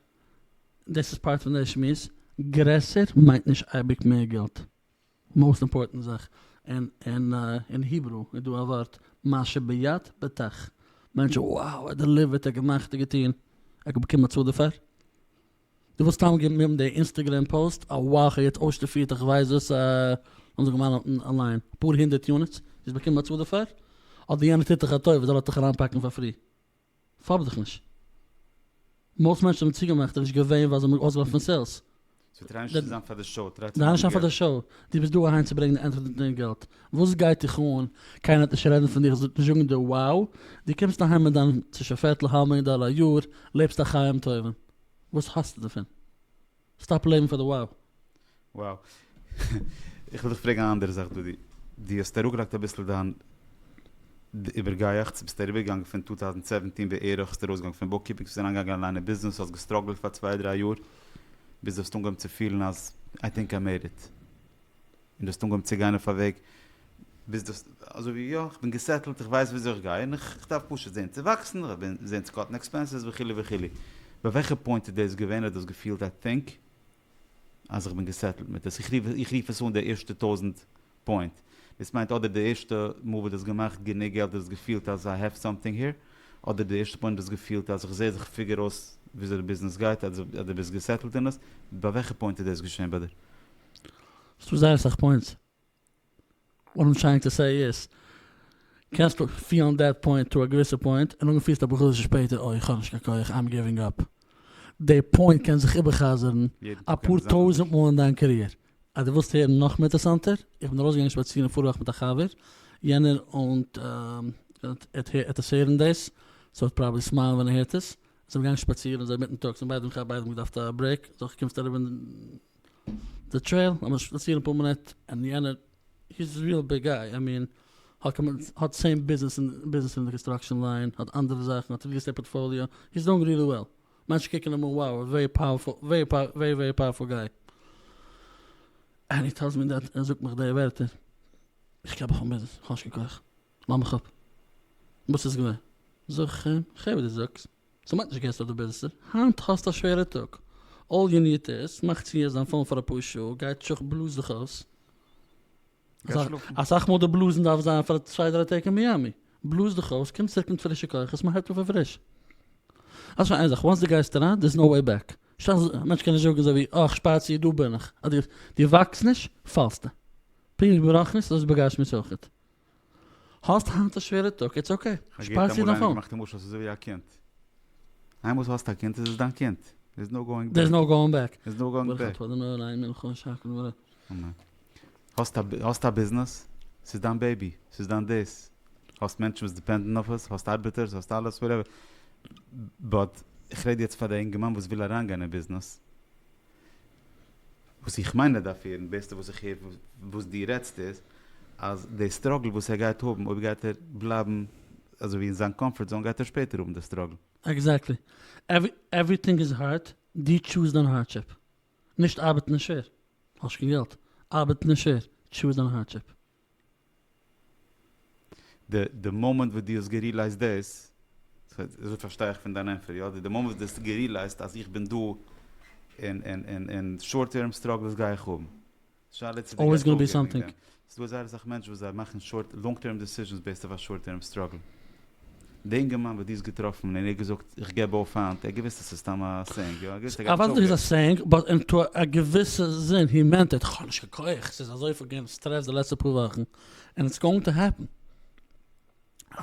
דאס איז פארט פון דער שמועס, גרעסער מיינט נישט אייביג מער געלט, מאוסט אימפארטענט זאך, אין היברו איז דא א ווארט מה שביד בטח, מענטשן wow ער האט דעליווערט ער האט געמאכט ער האט געטון, ער האט באקומען באצאלט דערפאר? דו ווילסט סתם געבן איבער די אינסטעגרעם פאוסט אז wow כ'האב יעצט אויסשטאפירט איך ווייס וואס לאמיר זאגן מיינעטן א ליין אפאר הונדערט יוניטס, דו האסט באקומען באצאלט דערפאר? אדער יענער טוט דיך א טובה זאל ער דיך אריינפאקן פאר פרי? פארב דיך נישט. מאסט מענטשן האבן צוגעמאכט און נישט געווען ווייל זיי האבן אויסגעלאפן פון סעילס. זיי טרייען נישט צו זיין פאר די שאו, טריי צו מאכן די געלט. דו ביסט דא אהיים צו ברענגן די ענטפער דעם געלט. וואס גייט דיך אן, קיינער וועט נישט רעדן פון דיר, עס וועט נישט זאגן דיר wow, דו קומסט אהיים מיט דיין צווישן פערטל האלב מיליאן דאלער א יאר, לעבסט א חיים טובים. וואס האסטו דערפון? סטאפ לעבן פאר די ווייב. וואו. איך וויל דיך פרעגן א אנדערע זאך דודי. דו האסט אראפגעלייגט אביסל דיין איבערגייעכץ, ביסט אריבערגעגאנגען פון טו טאוזנט סעווענטין בערך האסטו ארויסגעגאנגען פון בוקקיפינג ביסט אריינגעגאנגען אליין אין ביזנעס האסט געסטראגלט פאר צוויי דריי יאר ביז דו האסט אנגעהויבן צו פילן אז איי טינק איי מעיד איט. און דו האסט אנגעהויבן צו גיין אויף א וועג ביז דו האסט אזוי ווי יא כ'בין געסעטלט איך ווייס וויאזוי איך גיי און כ'דארף פשוט זעהן צו וואקסן זעהן צו קאטן עקספענסעס וכו' וכו'. ביי וועלכע פוינט איז דאס געווען האט דאס געפילט א טינק אז איך בין געסעטלט מיט עס איך רוף איך רוף עס אן די ערשטע טויזענט פוינט דאס מיינט אדער די ערשטע מאל וואס דו האסט געמאכט גענוג געלט דו האסט געפילט אז איי העוו סאמטינג העיר אדער די ערשטע פוינט דו האסט געפילט אז איך זעה איך פיגער אויס וויאזוי די ביזנעס גייט אז דו ביסט געסעטלט אין עס ביי וועלכע פוינט איז דאס געשעהן ביי דיר? ס'דא זייער אסאך פוינטס, וואט איים טרייענג טו סעי איז, קענסט פיהלן דעט פוינט טו א געוויסע פוינט, און נאכדעם פיהלסטו אפאר חדשים שפעטער אוי כ'האב נישט קיין כח, איים גיווינג אפ. די פוינט קען זיך איבער'חזר'ן אפאר טויזענט מאל אין דיין קעריער. אז דו ווילסט הערן נאך אינטערסאנטער, איך בין ארויסגעגאנגען שפאצירן פארוואך מיט א חבר, יענער אונט עטס הערן דאס, סאו עט פראבעלי סמייל ווען ער הערט עס, זעמיר געגאנגען שפאצירן אזוי מיטן טאג, זעמיר ביידע מיט א חבר ביידע האבן געדארפט א ברעיק, זאך קומסט אריבער. די טרעיל לאמיר שפאצירן אפאר מינוט און יענער הי איז ריעל ביג גאי איי מין האט סעים ביזנעס ביזנעס אין די קאנסטראקשען ליין האט אנדערע זאכן האט ריעל עסטעיט פארטפאליאו הי איז דואינג ריעלי וועל מענטשן קוקן אים אן wow א ווערי ווערי פאוערפול גאי ענד הי טעלס מי דעט ער זאגט מיך די ווערטער איך געב אויף אן ביזנעס איך האב נישט קיין כח לאמיך אפ וואס איז געווען זאג איך אים איך הער וואס דו זאגסט ס'מיינט נישט געסט אדער ביזסט. היינט האסט א שווערע טאג. אלל יו ניד איז, מאך צו יעצט דיין פאון פאר אפאר שעה, גיי אין טישוך בלאז זיך אויס. אסאך מאל די בלאזן דארף זיין פאר צוויי דריי טעג אין מיאמי. בלאז דיך אויס, קום צוריק מיט פרישע כוחות, מען הייבט אויף פון פריש. אז שוין איין זאך, וואנס די גייסט אריין, דער'ס נאו וועי בעק. שכח א מענטש קען נישט זאגן אזוי ווי אה כ'שפאר צו, דא בין איך. אז דו וואקסט נישט, פאלסטו. פונקט ברוחנית, אזוי איז בגשמיות אויכעט. האסט היינט א שווערע טאג, איטס אקעי, שפארט זיך נאך אן. איינמאל דו האסט א קינד איז עס דיין קינד, דעירס נאו גאוינג בעק. דעירס נאו גאוינג בעק. דעירס נאו גאוינג בעק. ברוך אתה אדוני אלהים מלך העולם שהכל נברא. אמן. האסט א ביזנעס, ס'איז דיין בעיבי, ס'איז דיין דעיס, האסט מענטשן וואס דיפענדן אויף עס, האסט ארבעטערס, האסט אלעס וואטעווער, באט איך רעד יעצט פאר די אינגערמאן וואס וויל אריינגיין אין ביזנעס, וואס איך מיין ער דארף הערן, בעסטע וואס איך הער וואס דו רעדסט איז, אז די סטראגל וואס ער גייט האבן, אויב גייט ער בלייבן אזויווי אין זיין קאמפארט זאון גייט ער שפעטער האבן די סטראגל. עקזעקטלי. עווריטינג איז הארד, דו טשוז דיין הארדשיפ. נישט ארבעטן איז שווער. האסט נישט קיין געלט. ארבעטן איז שווער. טשוז דיין הארדשיפ. די די מאמענט וואס דו האסט גערילייזט דאס, אזוי פארשטיי איך פון דיין ענפער, יא, די מאמענט וואס דו האסט גערילייזט אז איך בין דא און און און און שארט טערם סטראגלס גיי איך האבן. שאלה צו דו גייסט אויפגעבן וועגן דעם. ס'דא זייער אסאך מענטשן וואס זיי מאכן שארט לאנג טערם דעסיזשענס בעיסד אויף א שארט טערם סטראגל. די אינגערמאן וואס דו האסט געטראפן און ער האט געזאגט איך געב אויף היינט, ער האט געוויסט אז ס'איז סתם א סענג, יא? ער האט געוויסט ער גייט נישט אויפגעבן. איך ווייס אז ס'איז א סענג, באט אין טו א געוויסע זין הי מענט איט, כ'האב נישט קיין כח, ס'איז אזויפיל געווען סטרעס די לעצטע פאר וואכן, ענד איטס גאוינג טו העפן.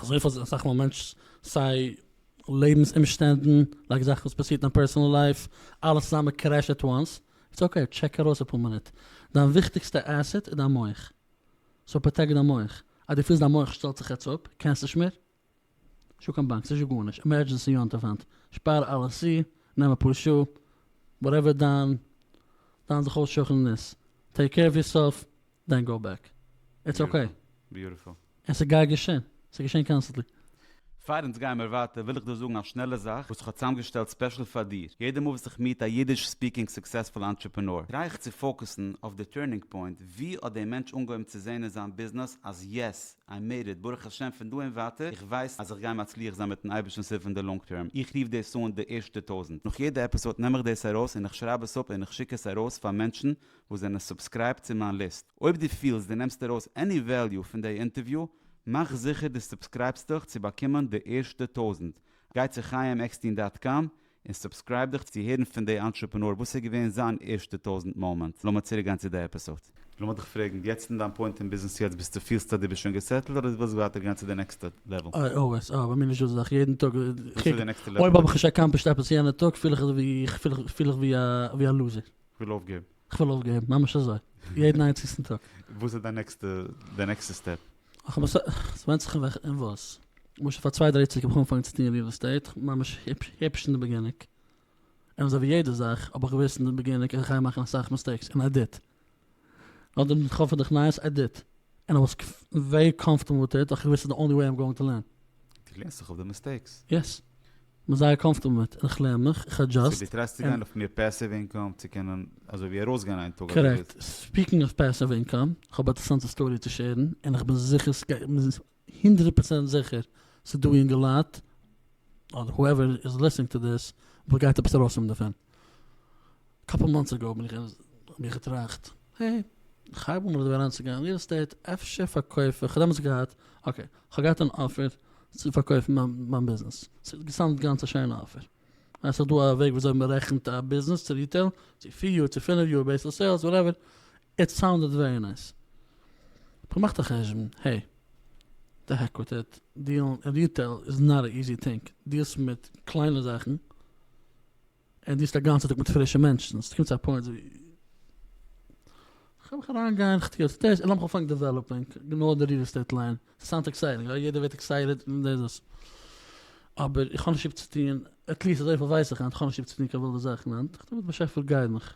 אזויפיל זאכן מיט א מענטש, סיי לעבנס אומשטענדן, לייק זאכן וואס פאסירט אין פערסאנעל לייף, אלעס צוזאמען קרעשט עט וואנס, איטס אקעי, טשעק ארויס אפאר מינוט. דיין וויכטיגסטע עסעט איז דיין מח. סאו פראטעקט דיין מח, אז דו פילסט דיין מח שטעלט זיך יעצט אפ, קענסט נישט מער, נישטא קיין באנק, נישטא גארנישט, עמערדזשענסי יונט אויף האנט, שפאר אלעס צו, נעם אפאר שעה, וואטעווער דיין דיין זיך אויסשוכענען איז, טעיק קעיר אוו יורסעלף, דען גאו בעק, איטס אקעי. ביוטיפול. און ס'גייט געשען. ס'איז געשען קאנסטענטלי. פאר אונז גייען מיר ווייטער וויל איך דא זאגן א שנעלע זאך וואס איך האב צוזאמגעשטעלט ספעשל פאר דיר, יעדע מאל וואס איך מיעט א אידיש ספיקינג סוקסעספול אנטרעפענאר טריי איך צו פאוקעסן אויף די טורנינג פוינט, ווי האט דער מענטש אנגעהויבן צו זעהן אין זיין ביזנעס אז יעס, איי מעיד איט, ברוך השם פון דא און ווייטער איך ווייס אז איך גיי מצליח זיין מיטן אייבערשטנ'ס הילף אין די לאנג טערם, איך רוף דאס אן די ערשטע טויזענט, נאך יעדע עפיסאד נעם איך דאס ארויס און איך שרייב עס אפ און איך שיק עס ארויס פאר מענטשן וואס זענען סובסקרייבט צו מיין ליסט, אויב דו פילסט דו נעמסט ארויס עני וועליו פון דעי אינטערוויו, מאך זיכער דו סובסקרייבסט דיך צו באקומען די ערשטע טויזנט, גיי צו חיים עקסטין דאט קאם און סובסקרייב דיך צו הערן פון דעי אנטרעפענאר וואס איז געווען זיין ערשטע טויזנט מאמענט, לאמיר צוריק גיין צו דעי עפיסאד. לאמיר דיך פרעגן, יעצט אין דיין פוינט אין ביזנעס יעצט ביסטו פילסטו אז דו ביסט שוין געסעטלט אדער דו ווילסט ווייטער גיין צו די נעקסטע לעוועל? אוי אוי ווייסט אוי ביי מיר נישט דא זאך יעדן טאג וואס איז די נעקסטע לעוועל? אויב האב איך נישט עקאמפלישט עפעס יענע טאג פיל איך ווי א לוזער. כ'וויל אויפגעבן. כ'וויל אויפגעבן, ממש אזוי. יעדן איינציגסטן טאג. וואס איז דיין נעקסטע, די נעקסטע סטעפ? ס'ווענדט זיך וועלכע און וואס. למשל פאר צוויי דריי יאר צוריק האב איך אנגעפאנגען צו טון ריעל עסטעיט, ממש היפש אין די בעגינונג. און אזויווי יעדע זאך האב איך געוואוסט אין די בעגינונג אז כ'גיי מאכן אסאך מיסטעיקס, און איי דיד. נאר די מין חפץ דורך נייעס עדיט ענד איי וואס ווערי קאמפארטעבל וויט איט ווייל איך געוואוסט ס'איז די אנלי וועי איים גאוינג טו לערן. די לערנסט זיך אויף די מיסטעיקס? יעס. כ'בין זייער קאמפארטעבל מיט און איך לערן מיך, איך עדזשאסט. סאו די טרייסט צו גיין אויף מער פעסיוו אינקאם צו קענען אזוי ווי ארויסגיין איין טאג אדער וואס? קארעקט. ספיקינג אוו פעסיוו אינקאם, כ'האב א אינטערעסאנטע סטארי צו שעירן, און כ'בין זיכער סגייט הונדרעט פראצענט זיכער ס'דא יונגע לייט אדער הואעווער איז ליסטינג טו דיס וואס גייט עפעס ארויסקומען דערפון. קאפל מאנטס אגאו בין איך האב איך געטראכט העי כ'הייב אן אביסל אריינצוגיין ריעל עסטעיט אפשר פארקויף איך כ'האב דעמאלטס געהאט אקעי כ'האב געהאט אן אפער צו פארקויפן מיין מיין ביזנעס ס'האט געסאונדט גאנץ א שיינע אפער ווייל ס'איז דא א וועג וויאזוי מ'רעכנט א ביזנעס צו ריטעיל צו פיר יאר צו פינף יאר בעיסד אויף סעילס וואטעווער איט סאונדעד ווערי נייס. האב איך געמאכט א חשבון, העי, די העק וויט איט, דיעלן אין ריטעיל איז נאט א איזי טינג, דיעלסט מיט קליינע זאכן, און דיעלסט א גאנצע טאג מיט פרישע מענטשן, ס'קומט צו א פוינט ווי כ'קען מיך אריינגיין, כ'טו יעצט דאס, און לאמיך אנפאנגען דעוועלאפינג, גענוי די ריעל עסטעיט ליין, ס'סאונדס עקסייטינג, יא, יעדער ווערט עקסייטעד און דאס דאס, אבער איך האב נישט ליב צו טון, עטליעסט אזויפיל ווייס איך היינט, כ'האב נישט ליב צו טון קיין ווילדע זאכן היינט, כ'טו מיט באשעפער גיידן איך.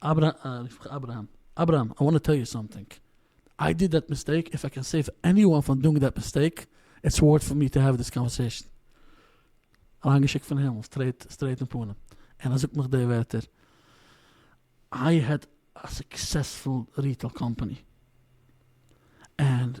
אברהם, אברהם, איי וואנט טו טעל יו סאמטינג, איי דיד דעט מיסטעיק, איף איי קען סעיוו עניוואן פון דונג דעט מיסטעיק, איטס ווארט פאר מי טו העוו דיס קאנווערסעישן. אריינגעשיקט פון הימל, סטרעיט סטרעיט אין פנים, און ער זאגט נאך די ווערטער, איי העד א סוקסעספול ריטעיל קאמפאני, ענד.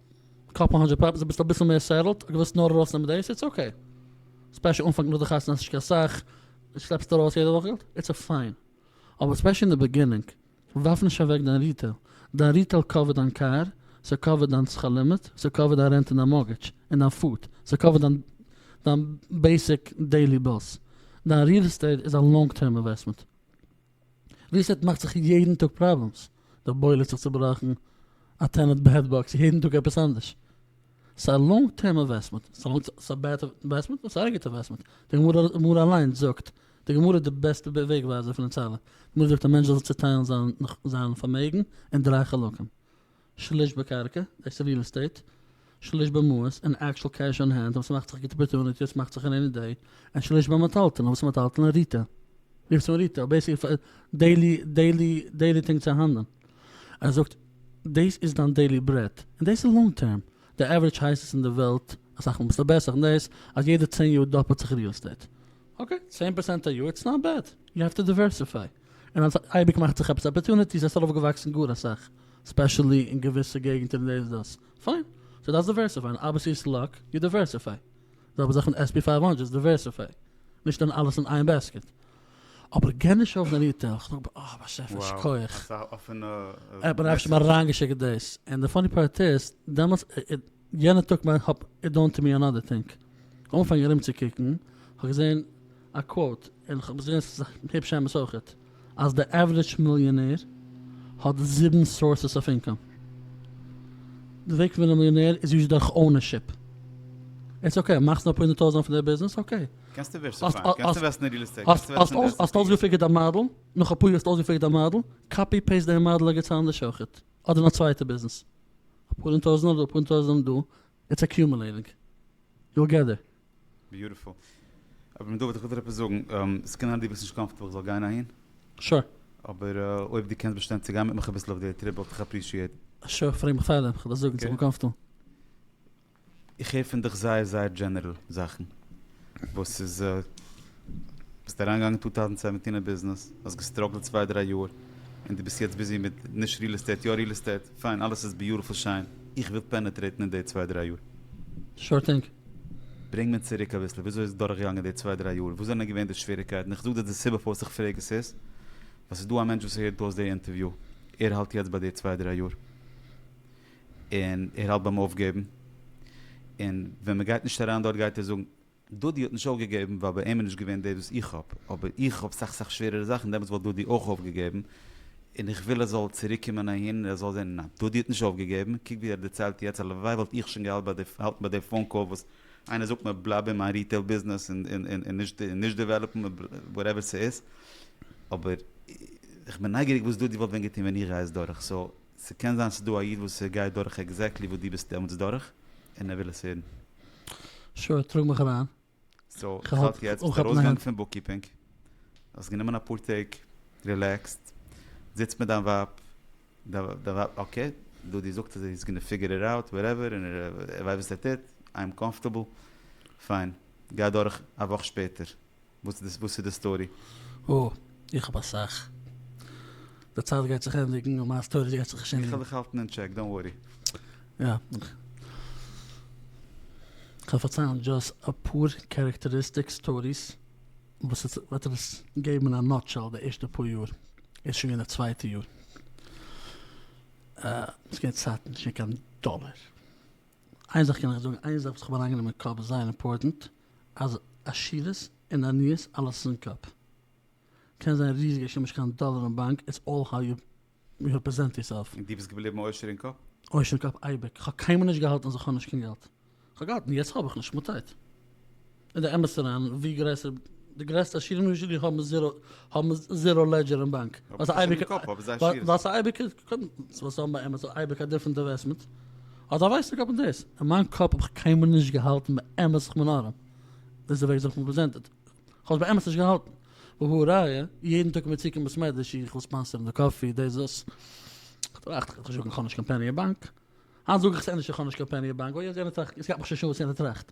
קאפ האנטשי פאפ איז אביסל אביסל מער סעטעלט, איך ווילסט נאר ארויסנעמען דאס, איטס אקעי. ספעשל אנפאנג נאך די חתונה האסט נישט קיין סאך, דו שלעפסט ארויס יעדע וואך געלט, איטס א פיין. אבער ספעשל אין די ביגינינג, ווארף נישט אוועק דיין ריטעיל. דיין ריטעיל קאווערט דיין קאר, ס'קאווערט דיין שכר לימוד, ס'קאווערט דיין רענט און דיין מארגעדזש, און דיין פוד, ס'קאווערט דיין דיין בעיסיק דעילי בילס. דיין ריעל עסטעיט איז א לאנג טערם אינוועסטמענט. ווי ס'העט מאכט זיך יעדן טאג פראבלעמס, די בוילער האט זיך צובראכן, א טענענט בעד באקס, יעדן טאג עפעס אנדערש. ס'א לאנג טערם אינוועסטמענט, ס'א בעד אינוועסטמענט און ס'א גוט אינוועסטמענט, די גמרא אליינס זאגט, די גמרא איז די בעסטע וועג ווייזער פון אונז אלע, די גמרא זאגט א מענטש זאל זיך צוטיילן זיין פארמעגן אין דריי חלקים. שליש בקרקע, דאס איז ריעל עסטעיט, שליש במעות, אין עקשול קעש אן הענד, וואס מאכט זיך גוטע אפערטוניטי, וואס מאכט זיך רעיני דעי, און שליש ביי מיטהאלטען, וואס איז מיטהאלטען אין ריטעיל, רופטס אן ריטעיל, בעיסיק פאר דעילי דעילי דעילי טינג צו האנדלען, ער זאגט דאס איז דיין דעילי ברעט, און דאס איז לאנג טערם, די עווערעדזש הייזעס אין די וועלט, אסאך מאל ביסטו בעסער אין דאס, אז יעדע צען יאר דאפלט זיך ריעל עסטעיט, אקעי, צען פארצענט א יאר, איטס נאט בעד, יו העוו טו דיווערסיפיי. און אז אייביג מאכט זיך עפעס אפערטוניטיס עס זאל אויף געוואקסן גאר אסאך ספעשעלי אין געוויסע געגענטער און דאס דאס פיין זיי דארפסט דיווערסיפייען אבער ס'איז סלאק יו דיווערסיפיי זעלבע זאך מיט עס פי פייוו הונדרעט דיווערסיפיי נישט שטעלן אלעס אין איין בעסקעט אבער גיי נישט אויף די ריטעיל כ'האב געב אה באשעפער שכוח. ער האט מיר אפשר אריינגעשיקט דאס און די פאני פארט איז דעמאלטס איז יענע טאג ווען כ'האב איט דאן טו מי אנאדער טינג אנגעפאנגען ארום צו קוקן, כ'האב געזען א קוואוט, און כ'האב געזען עס איז היפש אמת אויכעט, אז די עווערעדזש מיליאנער האט זיבן סאורסעס אויף אינקאם. די וועג פון ווערן א מיליאנער איז יוזשעלי דורך אונערשיפ. איטס אקעי, מאכסט נאר אפאר הונדערט טויזענט פון די ביזנעס, אקעי. קענסט דיווערסיפייען, קענסט אינוועסטן אין ריעל עסטעיט, קענסט אינוועסטן אין די עס ענד פי. האסט אויסגעפיגערט דיין מאדעל, נאך אפאר יאר האסטו אויסגעפיגערט דיין מאדעל, קאפי פעיסט דעם מאדעל ערגעץ אנדערש אויכעט, אדער אין א צווייטע ביזנעס. אפאר הונדערט טויזענט דא אפאר הונדערט טויזענט דא איטס אקיומעלעטינג יו געט דער. ביוטיפול. אברהם דוד איך וויל דיר עפעס זאגן, עס קען זיין דו ביסט נישט קאמפארטעבל איך זאל גיין אהין. שור. אבער אויב דו קענסט באשטיין צו גיין מיט מיך אביסל אויף די טריפ וואלט איך אפרישיעט. שור פרעג מיך פארדעם, כ'וועל דיר זאגן צו איך בין קאמפארטעבל. איך הער פון דיך זייער זייער דזשענערל זאכן וואס איז ביסט אריינגעגאנגען טו טאוזענד סעווענטין אין ביזנעס האסט געסטראגלט צוויי דריי יאר און די ביסט יעצט ביזי מיט נישט ריעל עסטעיט יא ריעל עסטעיט פיין אלעס איז ביוטעפול שיין איך וויל פענעטרעיטן אין די צוויי דריי יאר. שור טינג. ברענג מיר צוריק אביסל וויאזוי איז דורכגעגאנגען די צוויי דריי יאר וואס זענען געווען די שוועריקייטן איך זאג דיר די סיבה פארוואס איך פרעג עס איז ווייל ס'איז דא א מענטש וואס הערט אויס די אינטערוויו ער האלט יעצט ביי די צוויי דריי יאר און ער האלט ביים אויפגעבן, און ווען מען גייט נישט אריין דארט גייט ער זאגן, דודי האט נישט אויפגעגעבן ווייל ביי אים איז נישט געווען דאס וואס איך האב, אבער איך האב סאך סאך שווערערע זאכן, דעמאלטס וואלט דודי אויך אויפגעגעבן, און איך וויל ער זאל צוריק קומען אהין און ער זאל זען ניין דודי האט נישט אויפגעגעבן, קוק ווי ער דערציילט יעצט, הלוואי וואלט איך שוין געהאלטן ביי די פאון קאל וואס איינער זאגט מיר בלייב אין מיין ריטעיל ביזנעס און נישט דעוועלאפן וואטעווער ס'איז, אבער איך בין נייגעריג וואס דודי וואלט ווען געטון ווען איך גיי עס דורך, סאו. ס'קען זיין ס'דא א איד וואס ער גייט דורך עקזעקטלי וואס דו ביסט דעמאלטס דורך, און ער וויל עס הערן. שור טראג מיך אריין. סאו איך האלט יעצט ביסט ארויסגעגאנגען פון בוקקיפינג, האסט גענומען אפאר טעג, רילעקסט, זיצט מיט דיין ווייב, דיין ווייב אקעי, דודי זאגט אז היז גאנא פיגער איט אוט, וואטעווער, און ער ווייסט וואס ער טוט, איי עם קאמפארטעבל, פיין, גיי דורך א וואך שפעטער. וואס איז די סטארי? אה, איך האב אסאך. די צייט גייט זיך ענדיגן און מיין סטאריס גייט זיך נישט ענדיגן. איך וועל דיך האלטן אין טשעק, דאנט ווארי. יא. כ'וועל פארציילן דזשאסט אפאר קערעקטעריסטיק סטאריס וואס עס וועט אונז געבן אין א נאטשעל די ערשטע פאר יאר. איז שוין געווען די צווייטע יאר. אה, ס'איז געווען צייטן נישט געווען קיין דאלער. איין זאך קען איך זאגן, איין זאך וואס כ'האב אריינגענומען אין קאפ זייער אימפארטענט. אז עשירות און עניות אלעס אין קאפ. קען זיין ריזיגע איך האב נישט קיין דאלער אין באנק איטס אלל האו יו רעפרעזענט יור סעלף. און דו ביסט געבליבן עושר אין קאפ? עושר אין קאפ אייביג, איך האב קיינמאל נישט געהאלטן אז איך האב נישט קיין געלט, איך האב געהאלטן יעצט האב איך נישט מען טייט אין די אמת אריין ווי גרעסער די גרעסטע עשירים ניו זשערזי האבן זירא האבן זירא לעדזשער אין באנק ווייל ס'איז אייביג ווייל ס'איז אייביג ווייל ס'איז אייביג א דיפרענט אינוועסטמענט. אדער ווייסטו גאט מיינט דאס? אין מיין קאפ האב איך קיינמאל נישט געהאלטן באמת איך בין ארעם, דאס איז די וועג ווי זיך האב פרעזענטעד, איך האב עס באמת נישט געהאלטן, והא ראיה, יעדן טאג ווען מיר צוקומען צום מעדרעש איך וויל ספאנסערן די קאפי דאס דאס, איך טראכט איך זאג איך האב נישט קיין פעני אין באנק, היינט זאג איך עס ענדערש איך האב נישט קיין פעני אין באנק, אוי יעצט יענער טראכט, עס גייט מיך שוין שארן וואס יענער טראכט,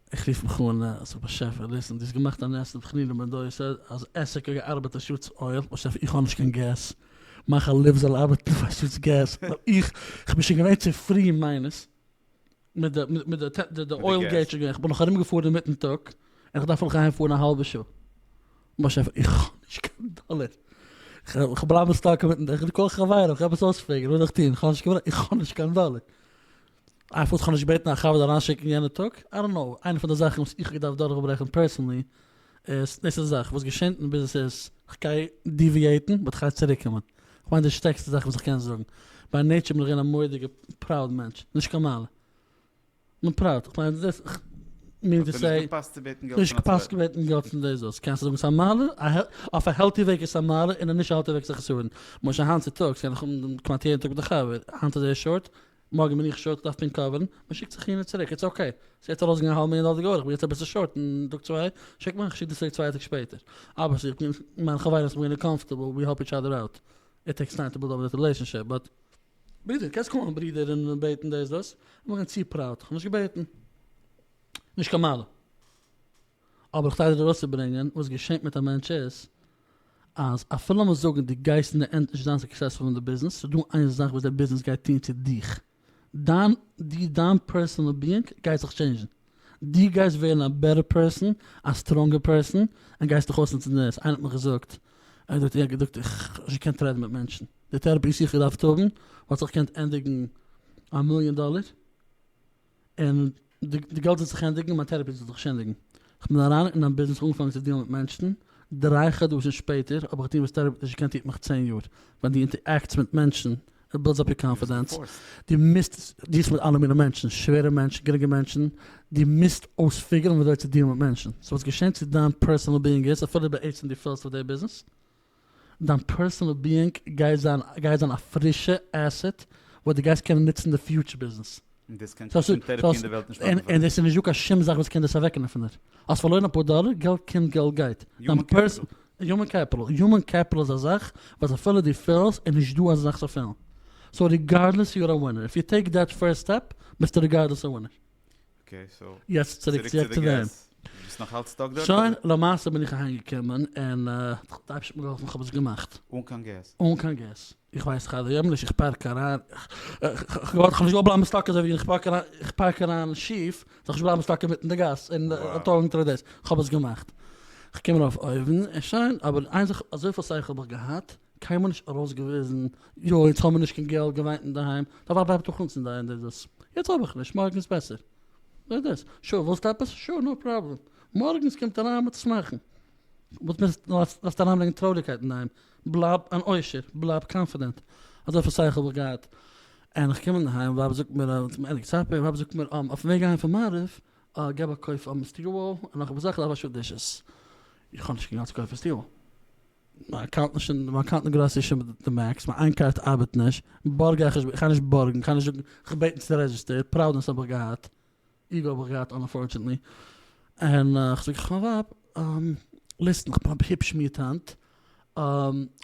איך רוף מיך אן אז רבי שעפער ליסען דו האסט געמאכט א נס אין תחנונים בן דור יוסף אז עסק האט געארבעט א שעה צו אויל, רבי שעפער איך האב נישט קיין געז, מיין חלב זאל ארבעטן פאר שעת געז, איך בין שוין געווען צו פרי אין מיינעס, מיט די אויל געז שוין געווען, איך בין נאך ארום געפארן אינמיטן טאג, און איך דארף נאך אהיים פארן א האלבע שעה, רבי שעפער איך האב נישט קיין דאלער, איך בלייב סטאק אינמיטן, איך קאל חברה, איך גיי עפעס אויספרעגן, וואס זאל איך טון, איך האב נישט קיין דאלער. אייוועלט איך האב נישט געבעטן א חבר אריינשיקן יענע טאג, איי דאנט קנאו, איינע פון די זאכן וואס איך האב געדארפט דורכברעכן פערסענלי, איז דאס איז די זאך וואס געשענט און ביז עס איז, כ'גיי דיוויעיטן באט כ'גיי צוריק קומען, כ'מיין די שטערקסטע זאך וואס כ'קען זאגן, ביי נעיטשער בין איך געווען א מורא'דיגע פראוד מענטש, נישט קיין מעלה, נאר פראוד, כ'מיין דאס, מינינג טו סעי, האט ער נישט געפאסט צו בעטן געלט פון א צווייטן? נישט געפאסט צו בעטן געלט פון די זאלסט, קענסט זאגן ס'איז א מעלה, אויף א העלטי וועג איז עס א מעלה און אויף נישט א העלטי וועג איז עס א חסרון, למשל היינט צוטאגס קען איך האבן כמעט יעדן טאג מיט א חבר, היינט איז ער שארט, מארגן בין איך שורט איך דארף פונקט קאווערן, מען שיקט זיך אהין און צוריק, איטס אקעי, ס'איז יעצט ארויסגעגאנגען א האלבע מיליאן דאלער די גאוה, איך בין יעצט אביסל שורט אין טאג צוויי, שיק מיך איך שיק דיר צוריק צוויי טאג שפעטער, אבער ס'איז געווען מיין חברות מיר געווען קאמפארטעבל, ווי העלפ איטש אדער אוט, איט טעיקס טיים טו בילד אפ דעט רילעישאנשיפ, באט. ברודער, קענסט קאלן מיין ברודער און בעטן דאס דאס, איך בין געווען צו פראוד, איך האב נישט געבעטן, נישט קיין מעלה. אבער איך טריי ארויסצוברענגען וואס געשעהט מיט א מענטש איז אז אפילו לאמיר זאגן די גייסט אין די ענד נישט זיין סוקסעספול אין די ביזנעס ס'איז דא איין זאך וואס די ביזנעס גייט טוהן צו דיך דיין די דיין פערסאנעל ביאינג גייט זיך טשעינדזשן די גייסט ווערן א בעטער פערסאן א סטראנגער פערסאן און גייסט דיך אויסנוצן די נערוס איינער האט מיך געזאגט ער האט געזאגט איך האב נישט געקענט רעדן מיט מענטשן די טעראפי שיך געדארפט האבן וואלט זיך געקענט ענדיגן א מיליאן דאלער. און די די געלט זאל זיך ענדיגן און מיין טערעפי זאל זיך שענדיגן. כ'בין אריין אין א ביזנעס אנגעפאנגען צו דילן מיט מענשטן, דריי חדשים שפעטער האב איך געטון וואס טערעפי נישט געקענט טוט מיך צען יאר, ווען די אינטערעקטס מיט מענטשן, איט בילדס אפ יור קאנפידענס, די מוזט דילסט מיט אלע מיני מענטשן, שווערע מענטשן, גרינגע מענטשן, די מוזט אויספיגערן ווי אזוי צו דילן מיט מענטשן, סאו וואס געשענט צו דיין פערסאנעל ביאינג איז, אפילו בעצם די פעלסט אויף די ביזנעס, דיין פערסאנעל ביאינג גייט זיין גייט זיין א פרישע עסעט וואס די גייסט קענען נוצן אין די פיוטשער ביזנעס. און דאס קען קיין שום טערעפי אין די וועלט נישט מאכן פאר דיר. און דאס איז נישטא קיין שום זאך וואס קען דאס אוועקנעמען פון דיר. האסט פארלוירן אפאר דאלער, געלט קומט געלט גייט. יומען קעפיטעל. יומען קעפיטעל, יומען קעפיטעל איז א זאך וואס אפילו דו פעלסט איז נישטא אזא זאך צו פעלן. סאו ריגארדלעס יו אר א ווינער, איף יו טעיק דעט פירסט סטעפ ביסטו ריגארדלעס א ווינער. אקעי סאו יעצט צוריק צו די געז, ביסט נאך אלץ סטאק דארט? שוין למעשה בין איך אהיים געקומען און די אייבשטער האט מיר געהאלפן כ'האב עס געמאכט. אן קיין געז? אן קיין געז, איך ווייס איך ארבעט יעמליך איך פארק אריין, כ'וואלט כ'נישט געוואלט בלייבן סטאק אזוי ווי איך פארק אריין איך פארק אריין שיף זאל איך נישט בלייבן סטאק אינמיטן די גאס און טאל אונטער דאס, כ'האב עס געמאכט, כ'קום ארויף אויבן און שוין אבער איין זאך אזויפיל שכל האב איך געהאט קיינמאל נישט ארויסגעוויזן, יא יעצט האמיר נישט קיין געלט, געוויינט אינדערהיים, די ווייב בלייבט דאך אונז אינדערהיים, דאס דאס, יעצט האב איך נישט, מארגן איז בעסער, דאס דאס, שא ווילסט עפעס, שא נאו פראבלעם, מארגנס קומט אריין מיט שמחה'ן, וואס מוזט דארפסט אריינברענגען טרויעריקייט אינדערהיים, בלייב אן עושר, בלייב קאנפידענט, אזויפיל שכל האב איך געהאט, און איך קום אינדערהיים, ווייב זאגט מיר אז ס'איז ענדיגט סאפער, ווייב זאגט מיר אויפן וועג אהיים פון מעריב, אה גיי באקויף סטיוול און נאך אפאר זאכן, איך דארף א שעה דישעס, איך האב נישט קיין געלט צו קויפן סטיוול. מיין קארט נישט אין מיין קארט אין גראסערי איז שוין די מעקס, מיין איין קארט ארבעט נישט, בארג איך נישט, כ'גיי נישט בארגן, כ'גיי נישט זאגן, כ'האב געבעטן צו די רעדזשיסטער, פראבלעמס האב איך געהאט, איגו האב איך געהאט אנפארטשענעטלי, און כ'זאג איך מיין ווייב, ליסטן כ'בין היפש מיד היינט,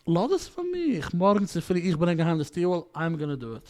לאז עס פאר מיך, מארגן צופרי איך ברענג אהיים די סטיעל וואל, אייעם גאנא דא איט.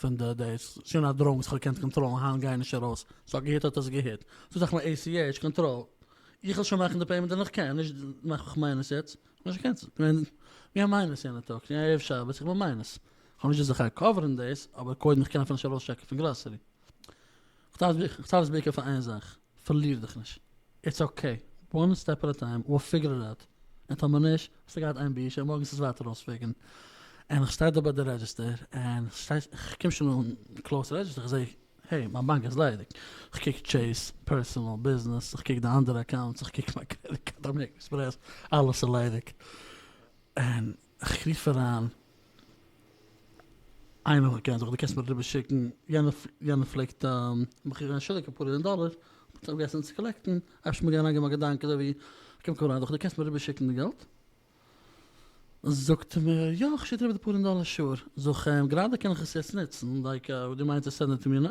פון די דעיס, שוין א דראון וואס כ'האב געקענט קאנטראלן, היינט גייען נישט ארויס, ס'האט געהיט האט עס געהיט, ס'איז דאך מיין ACH קאנטראל, איך זאל שוין מאכן די פעימענט ווען איך קען, נישט מאך איך מיינוס יעצט, כ'האב נישט געקענסלט, איך בין געווען מיינוס יענע טאג, ס'איז ערב שבת, איך בין מיינוס, כ'האב נישט די זכי' קאווערן דעיס, אבער קודם איך קען אפילו נישט ארויסטשעקן פון גראסערי, כ'טאר עס בעיקר פאר איין זאך. פארליר דיך נישט, איטס אקעי, וואן סטעפ עט א טיים, וויל פיגור איט אוט, און טאמער נישט, האסטו געהאט איין בושה, מארגן ס'איז ווייטער אויס וועגן, און איך שטיי דא ביי די רעדזשיסטער, און כ'קום שוין אן קלאוס רעדזשיסטער, איך זעה, העי, מיין באנק איז ליידיג, כ'קוק טשעיס, פערסאנעל, ביזנעס, איך קוק די אנדערע אקאונטס, איך קוק מיין קרעדיט קארד, אמעריקען עקספרעס, אלעס איז ליידיג, און. איך רוף אריין איינעם וואס מ'קען, זאג איך דו קענסט מיר אריבער שיקן, יענער פלעגט מיך געבן א שילק אפאר מיליאן דאלער, כ'האב אויפגעהעצט עס צו קאלעקטן, עפעס איז מיר געווען אריינגעקומען א געדאנק אזוי ווי, קום קום אריין, זאג איך דו קענסט מיר אריבער שיקן די געלט, זאגט ער מיר יא איך שיק דיר אריבער די פאר מיליאן דאלער שאר, זאג איך אים גראדע קען איך עס יעצט נוצן, דייקא דו מיינסט עס ענדערט מיר נ.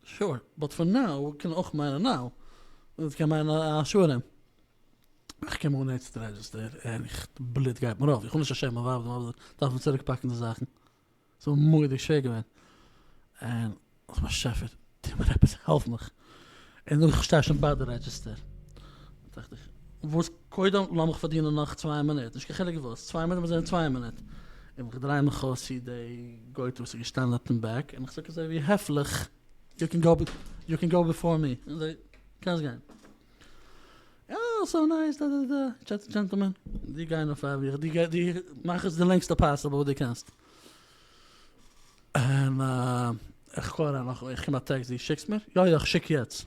Sure, but for now קען אויך מיינען נאו, און עס קען מיינען א א שור אים. איך קום אן יעצט רעדזשיסטער, ערליך, די בלוט גייט מיר אויף, איך וויל נישט פארשעמען מיין ווייב, די ווייב דארף מיר צוריק פאקן די זאכן, ס'איז מיר מורא'דיג שווער געווען, און אוי באשעפער, טו מיר עפעס, העלף מיך, און איך שטיי שוין ביי די רעדזשיסטער. טראכט איך, וואס קודם לאמיך פארדינען נאך צוויי מינוט, נישט קיין חילוק וואס, צוויי מינוט זענען צוויי מינוט, און איך דריי מיך אויס צו די גויטע וואס איז געשטאנען אויפן בעק, און איך זאג אזוי ווי העפליך, יו קען גאו יו קען גאו ביפאר מי, און זיי, קענסט גיין. אה, סאו נייס, דה דה דה, טשעטס דזשענטלמען, די גיין אויף א ווי, די מאך עס די לענגסטע פאסיבל וואס די קענסט. און איך קאל אריין נאך, איך קום א טעקסט, די שיקסט מיר? יא יא, איך שיק יעצט.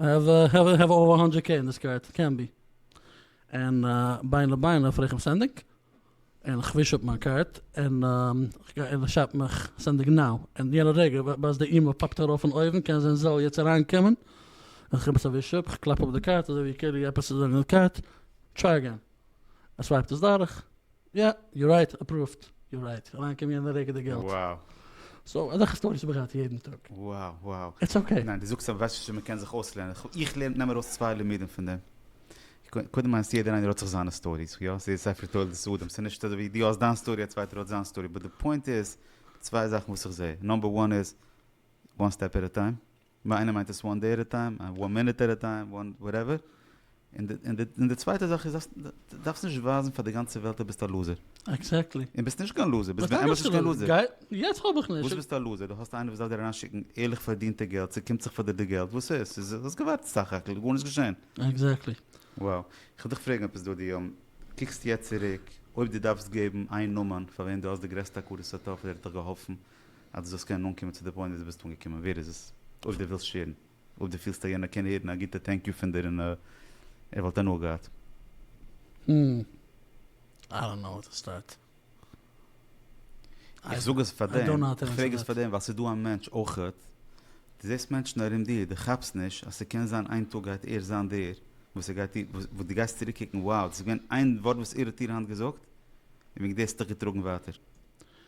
איי האוו איי האוו איי האוו אווער א האנדרעט קעי אין דיס קארד קען בי און בין לבין האף איך אים סענדינג און כ'וויש אפ מיין קארד און כ'גיי און כ'שרייב מיך סענדינג נאו און יענע רגע בעת די אימעיל פאפט ארויף פון אויבן קען זיין זאל יעצט אריינקומען און כ'גיב עס א וויש אפ כ'קלאפ אפ די קארד אזוי ווי קערי עפעס איז ראנג אין די קארד טריי אגעין ער סווייפט עס דורך יא, יו רייט, אפראווד, יו רייט, אריין קומען יענע רגע די געלט. וואו. סאו אזעלכע סטאריס האב איך געהאט יעדן טאג. וואו וואו. איטס אקעי. ניין די זאגסט אביסל וואס מען קען זיך אויסלערנען, איך לערן נעם ארויס צוויי לימודים פון דעם, קודם מיינסט יעדער איינער האט זיך זיינע סטאריס, יא ס'איז ספר תולדות אדם, ס'איז נישט אזויווי דו האסט דיין סטארי א צווייטער האט זיין סטארי, באט די פוינט איז צוויי זאכן וואס איך זעה, נאמבער וואן איז וואן סטעפ עט א טיים. ביי איינעם מיינט עס וואן דעי עט א טיים, וואן מינוט עט א טיים, וואן וואטעווער, און די צווייטע זאך איז אז דו דארפסט נישט ווייזן פאר די גאנצע וועלט אז ביסט א לוזער. עקזעקטלי. און ביסט נישט קיין לוזער, ביסט באמת נישט קיין לוזער. יעצט כאפ איך נישט. וואס ביסטו א לוזער? דו האסט איינער וואס דארף דיר אריינשיקן ערליך פארדינטע געלט, ס'קומט זיך פאר דיר די געלט, וואס איז? ס'איז, האסט געווארט סך הכל, גארנישט געשען. עקזעקטלי. וואו. כ'וועל דיך פרעגן עפעס דודי, קוקסט יעצט צוריק, אויב דו דארפסט געבן איין נאמען פאר וועם דו האסט די גרעסטע הכרת הטוב אז ער האט דיך געהאלפן, אז דו זאלסט קענען אנקומען צו די פוינט ווי דו ביסט אנגעקומען, ווער איז עס? אויב דו ווילסט שעירן, אויב דו פילסט אז יענער קען הערן א גוטע טענק יו פון דיר און ער וואלט הנאה געהאט. הום. איי דאנט נאו וואו טו סטארט. איך זאג עס פאר דעם, איך פרעג עס פאר דעם ווייל ס'איז דא א מענטש אויכעט, דו זעסט מענטשן ארום דיר, דו כאפסט נישט אז ס'קען זיין איין טאג גייט ער זיין דער וואס ער גייט דיר, וואס דו גייסט צוריק קוקן, wow, דאס איז געווען איין ווארט וואס ער האט דיר היינט געזאגט, און וועגן דעם האסטו דיך געטראגן ווייטער.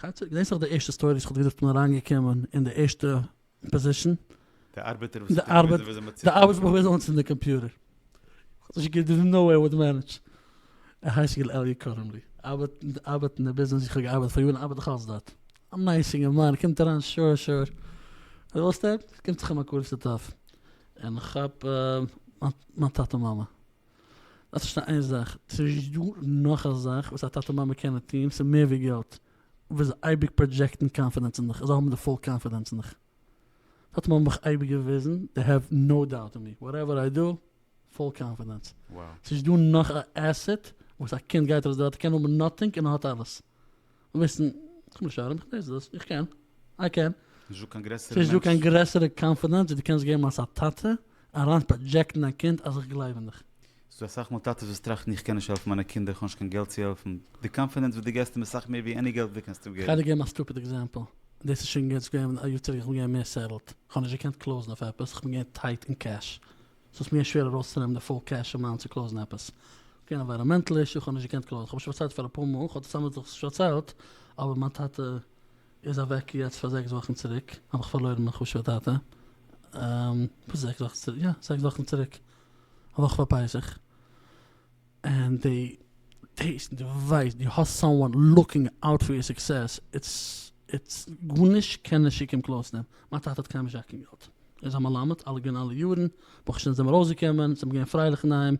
כאטש דאס איז די ערשטע סטארי וואס כ'האב געזאגט פון אריינגעקומען אין די ערשטע פאזישן. די ארבעטער וואס האט געוויזן וויאזוי מען צינדט אן. די ארבעטער וואס האט געוויזן אנצינדן די קאמפיוטער. כ'האב נישט געקענט דערס איז נאו וועי אוואו די מענעדזש. ער הייסט יגאל אלי' קוראים לי. ארבעט ארבעט אין די ביזנעס ווי כ'האב געארבעט פאר יארן ארבעט איך אלץ דארט. א נייס אינגערמאן קומט אריין שור שור. וואס ווילסטו? קומט זיך אים א קורצע טאפ. און כ'כאפ מיין טאטע מאמע. דארפסט פארשטיין איין זאך, ס'נישט דא נאך א זאך וואס א טאטע מאמע קענען טון, ס'איז מער ווי געלט, וועסט זיי אייביג פראדזשעקטן קאנפידענס אין דיך, זיי האבן די פול קאנפידענס אין דיך, טאטע מאמע האבן מיך אייביג געוויזן, דעי העוו נאו דאוט אין מי, וואטעווער איי דא, פול קאנפידענס, ס'נישט דא נאך א עסעט וואס א קינד גייט ארויס די וועלט, ער קען האבן נאטינג און ער האט אלעס. וויסן, קום נישט ארום, איך ווייס דאס, איך קען, איי קען. נישט דא קיין גרעסערע מענטש. ס'נישט דא קיין גרעסערע קאנפידענס ווי דו קענסט געבן אלס א טאטע, אריין פראדזשעקטן דיין קינד אז איך גלייב אין דיך. ס'דא אסאך מאל טאטעס וואס טראכטן איך קען נישט העלפן מיינע קינדער, כ'האב נישט קיין געלט צו העלפן. די קאנפידענס וואס דו געבסט אים איז סאך מער ווי עני געלט וואס דו קענסט אים געבן. כ'עדער געבן א סטופיד עקזעמפל, דאס איז שוין יעצט געווען א יאר צוריק, איך בין געווען מער סעטעלד, כ'האב נישט געקענט קלאוזן אויף עפעס, כ'בין געווען טייט אין קעש, ס'איז מיר שווער ארויסצונעמען די פול קעש אין מיין צו קלאוזן עפעס. געווען ענווייראמענטעל אישו כ'האב נישט געקענט קלאוזן. כ'האב שוין פארציילט פאר אפאר מאל, כ'האב צוזאמען מיט זיך שוין פארציילט, אבער מיין טאטע איז אוועק יעצט פאר זעקס וואכן צוריק, האב איך פארלוירן מיין חשוב'ע טאטע. פאר זעקס וואכן צוריק, יא זעקס וואכן צוריק, א וואך פאר פסח. און די טעיסט און די ווייסט די האסט סאמוואן לוקינג אוט פאר יור סוקסעס איטס גארנישט קען נישט שיקען קלאוס דעם, מיין טאטע האט קיינעם נישט געהאט קיין געלט ער איז א מלמד אלע געווען אלע יארן ברוך השם זעמער ארויסגעקומען זעמער געווען פרייליך אין היים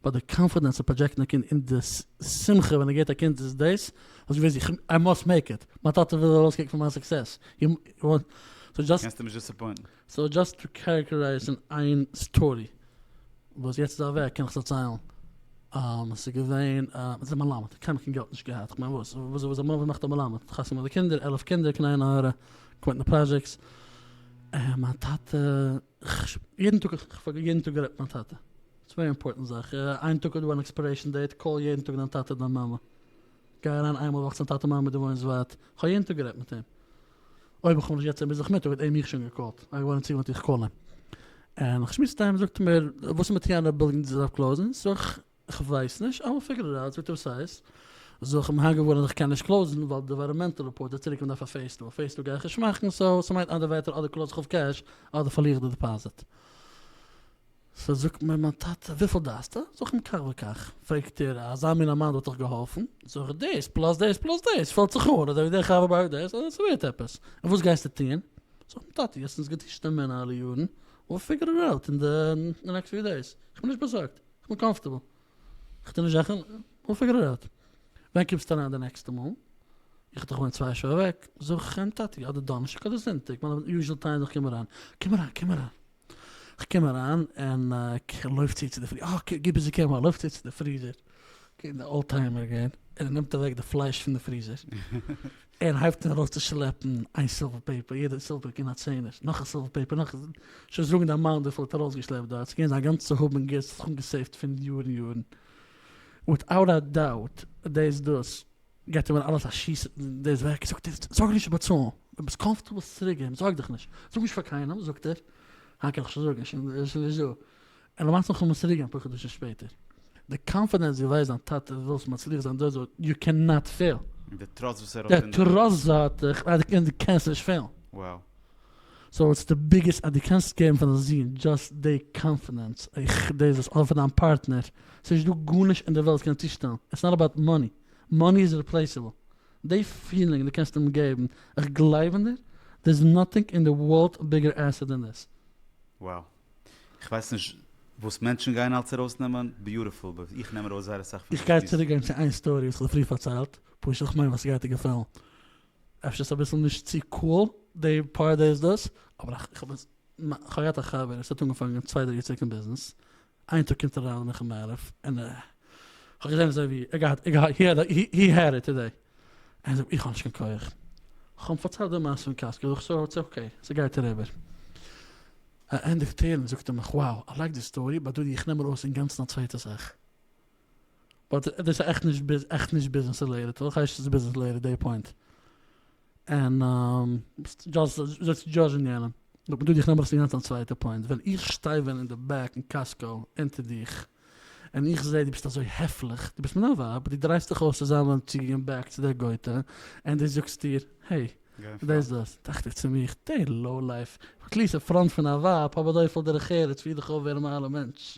באט די קאנפידענס צו פראדזשעקטן א קינד און די שמחה ווען ער געט א קינד איז דאס האסט געוויסט איך איי מאסט מעיק איט מיין טאטע וויל ארויסקוקן פון מיין סוקסעס סאו דזשאסט. קענסט אים נישט דיסעפוינטן. סאו דזשאסט צו קערעקטערייזן איין סטארי וואס יעצט איז אוועק קען איך דערציילן אז ס'איז געווען איז א מלמד קיינער קיין געלט נישט געהאט כ'מיין וואס וואס איז א מלמד וואס מאכט א מלמד חתונה די קינדער עלף קינדער קען איינער הערע קומען אין די פראדזשעקטס און מיין טאטע יעדן טאג כ'האב יעדן טאג גערעדט מיט מיין טאטע ס'איז ווערי אימפארטענט זאך איין טאג איז דא אן עקספערעישן דעיט קאל יעדן טאג דיין טאטע דיין מאמע גיי אריין איינמאל א וואך צום טאטע מאמע דו וואוינסט ווייט, איך האב יעדן טאג גערעדט מיט אים, אויב איך האב נישט יעצט אים ביז נאכמיטאג האט ער מיך שוין געקאלט, ער איז געווארן צוגעוואוינט איך קאל אים, און איך שמועס מיט אים זאגט ער מיר וואס איז מיט די אנדערע בילדינגס דארף קלאוזן, זאג איך איך ווייס נישט איי וויל פיגור איט אוט זאגט ער וואס הייסט, זאג איך בין היינט געווארן אז איך קען נישט קלאוזן ווייל די עווייראמענטעל רעפארט זאגט צוריק מען דארף א פעיז טו, א פעיז טו גיי איך נישט מאכן, סאו ס'מיינט אנדערע ווערטער אדער קלאוז איך אויף קעש אדער פארליר איך די דיפאזיט. סא זאגט מיר מיין טאטע, וויפיל דארפסטו? זאג איך אים כך וכך. פרעגט ער, אזא מין א מאן וואלט דאך געהאלפן. זאג איך, דאס פלאס דאס פלאס דאס פעלט זיך אן, אזוי ווי דער חבר בארגט דאס, אזוי ס'ווערט עפעס. און וואס גייסטו טון? זאג איך אים, טאטע, האסט אונז געטשט די מענער אלע יארן, וויל פיגור איט אוט אין די נעקסט פיו דעיס. כ'בין נישט באזארגט, כ'בין קאמפארטעבל. כ'טו נישט זאכן, וויל פיגור איט אוט. ווען קומסטו אריין די נעקסטע מאל? איך דאך וואוין צוויי שעה אוועק. זאג איך אים, טאטי, אדער דאנערשטאג אדער זונטאג, מיין יוזשעל טיים איך קום אריין. קום אריין, קום אריין. כ'קום אריין און כ'לויף צו צו די פריזער, אה גיב ביז איך קום אריין, לויף צו צו די פריזער, קומט די אולטהיימער גער און ער נעמט אוועק די פלייש פון די פריזער, און הייבט אן ארויס צו שלעפן איין סילווער פעיפער, יעדע סילווער פעיפער געווען א צענער, נאך א סילווער פעיפער, נאך, שוין זאגן די אמאונט וויפיל ער האט ארויסגעשלעפט דארט, ס'געווען זיין גאנצע האב און גוטס וואס ער האט אנגעסעיווט פון יארן יארן, וויטאוט א דאוט, דאס דאס. געט אים אלעס א שיס אין דאס וועג, זאגט ער זאג נישט באצאלן, ווען ביסט קאמפארטעבל זאלסטו צוריק געבן, זארג דיך נישט, זאג נישט פאר קיינעם, זאגט ער, היינט קען איך שוין זאגן, ער איז שוין נישט דא, און למעשה איך וועל אים עס צוריק געבן אפאר חדשים שפעטער, די קאנפידענס דו ווייסט דיין טאטע ווילסט מצליח זיין דאס וואס יו קען נאט פעיל. און די טראסט וואס ער האט אין דיר. די טראסט וואס ער האט אין דיר און די קענסט נישט פעילן. Wow. סאו איטס די ביגעסט אז דו קענסט געבן פאר דיין זון דשאסט דעי קאנפידענס איך דאס דאס אדער פאר דיין פארטנער סאיז נישט דא גארנישט אין די וועלט קען צושטעלן איטס נאט אבאוט מאני מאני איז ריפלעיסעבל דעי פילינג דו קענסט אים געבן איך גלייב אין דיר דער איז נאטינג אין די ווארלד ביגער עסעט דען דאס. Wow. כ'ווייס נישט וואס מענטשן גייען אלץ ארויסנעמען, ביוטיפול, באט איך נעם ארויס זייער אסאך פון איך גיי צוריקגיין צו איין סטארי וואס כ'האב פריער פארציילט, פשוט איך מיין וואס ס'גייט דיר געפעלן. אפשר ס'איז אביסל נישט צו קאול די פאר דעיס דאס, אבער איך האב עס, כ'האב געהאט א חבר עס האט אנגעפאנגען צוויי דריי יער צוריק אין ביזנעס, איין טאג קומט ער אריין נאכן מעריב און ער, כ'האב געזען אזוי ווי ער געהאט, הי העד איט טודעי, ער זאגט איך האב נישט קיין כח, איך האב אים פארציילט די מעשה פון קאסקע, ער זאגט סאו איטס אקעי, ס'גייט אריבער. ער ענדיגט טענה'ן זאגט ער מיך wow, איי לייק די סטארי, באט דודי איך נעם ארויס אינגאנצן א צווייטע זאך. באט דאס איז עכט נישט ביז עכט נישט ביזנעס רילעיטעד אויך הייסט עס ביזנעס רילעיטעד די פוינט און ביסט דזשאסט דזשאדזשן יענעם נאר כדי דיך נעמען אינגאנצן א צווייטע פוינט ווען איך שטיי ווען אין די בעק אין קאסקאו אונטער דיך און איך זעה די ביסט אזוי העפליך די ביסט מיין ווייב די דרייסט דיך אויס צו זיין ווען צו גיין בעק צו די גויטע און די זאגסט איר העי דאס דאס דאכט איך צו מיך די לאו לייף איך קליער ס'פראנט פון א ווייב האב אזויפיל דרך ארץ פיר דיך אויף ווערן מיין אלע מענטש.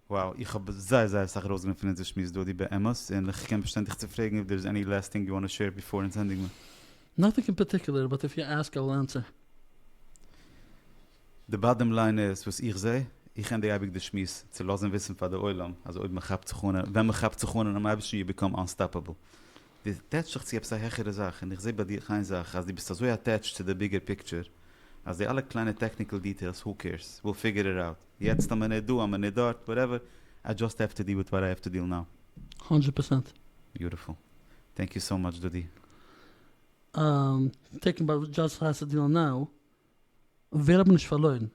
Wow, איך האב זייער זייער אסאך ארויסגענומען פון אונזער שמועס דודי, באמת, און איך קען באשטיין דיך צו פרעגן איף דער איז עני לעסט טינג יו וואנט טו שעיר ביפאר אונז ענדיגן מען. נאטינג אין פארטיקולער באט איף יו עסק אייל ענסער. די באדעם ליין איז וואס איך זע, איך ענדיג אייביג די שמועס צו לאזן וויסן פאר די עולם אז אויב מען כאפט זיך אן און ווען מען כאפט זיך אן אינעם אייבערשטן יו ביקאם אנסטאפעבל. די עטעטש זיך צו עפעס א העכערע זאך, און איך זע ביי דיך איין זאך אז די ביסט אזוי עטעטשט צו די ביגער פיקטשער אז די אלע קליינע טעקניקעל דיטעילס הו קעירס, וויל פיגור איט אוט. יעצט אז מען איז דא אז מען איז דארט וואטעווער, איי דזשאסט העוו טו דיל וויט וואט איי העוו טו דיל נאו. הונדרעט פערסענט. ביוטיפול. טענק יו סאו מאטש דודי. טעקן ביי דזשאסט העוו טו דיל נאו, ווער האבן נישט פארלוירן?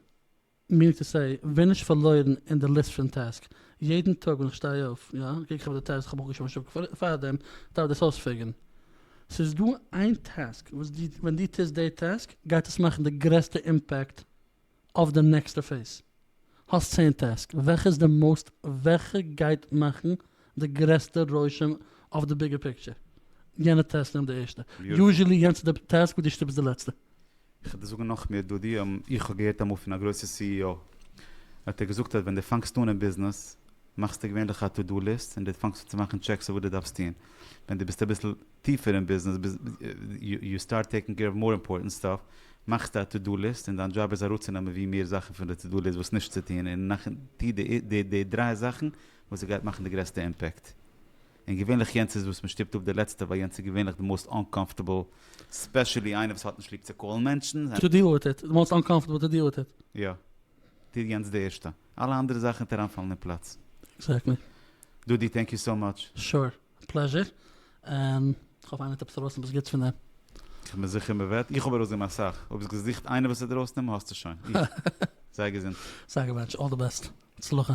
מינינג טו סעי, ווער נישט פארלוירן אין די ליסט פון טעסק? יעדן טאג ווען איך שטיי אויף, יא, קוק איך אויף די טעסק, כ'האב אויך געשריבן א שטיקל פארדעם, דארף דאס אויספיגערן. ס'איז דא איין טעסק וואס דו, ווען דו טוסט די טעסק, גייט עס מאכן די גרעסטע אימפעקט אויף די נעקסטע פעיז. האסט צען טעסק, וועלכע איז די מאוסט וועלכע גייט מאכן די גרעסטע רושם אויף די ביגער פיקטשער? יענע טעסק נעמט די ערשטע. יוזשעלי יענץ איז די טעסק וואס דו שטופסט די לעצטע. איך וועל דיר זאגן נאך מער דודי, איך האב געהערט אמאל פון א גרויסע סי אי או, האט ער געזאגט אז ווען דו פאנגסט אן אין ביזנעס מאכסטו געווענליך א טו דו ליסט און דו פאנגסט אן צו מאכן טשעקס אויף וואס דו דארפסט טון ווען דו ביסט אביסל טיפער אין ביזנעס, ביז יו סטארט טעיקינג קעיר אוו מאר אימפארטענט סטאף, מאכסטו א טו דו ליסט און דיין דזשאב איז אראפצונעמען ווי מער זאכן פון די טו דו ליסט וואס נישט צו טון און נאכן טו די די דריי זאכן וואס עס גייט מאכן די גרעסטע אימפעקט. און געווענליך יענץ איז וואס מען שטופט אפ די לעצטע ווייל יענץ איז געווענליך די מאוסט אנקאמפארטעבל ספעשעלי איינער וואס האט נישט ליב צו קאלן מענטשן. טו דיעל וויט איט, די מאוסט אנקאמפארטעבל טו דיעל וויט איט. יא. טו יענץ די ערשטע. אלע אנדערע זאכן וועט אריינפאלן אין פלאץ. עקזעקטלי. דודי טענק יו סאו מאטש. שור. פלעזשער, און כ'האף איינער האט עפעס ארויסנעמען וואס גוטס פון דעם. כ'בין זיכער מ'וועט, איך האב ארויסגענומען אסאך, אויב האסט געזוכט איינער וואס האט ארויסנעמען האסטו שוין, זיי געזונט. זיי געוואונטשן אל די בעסט, הצלחה.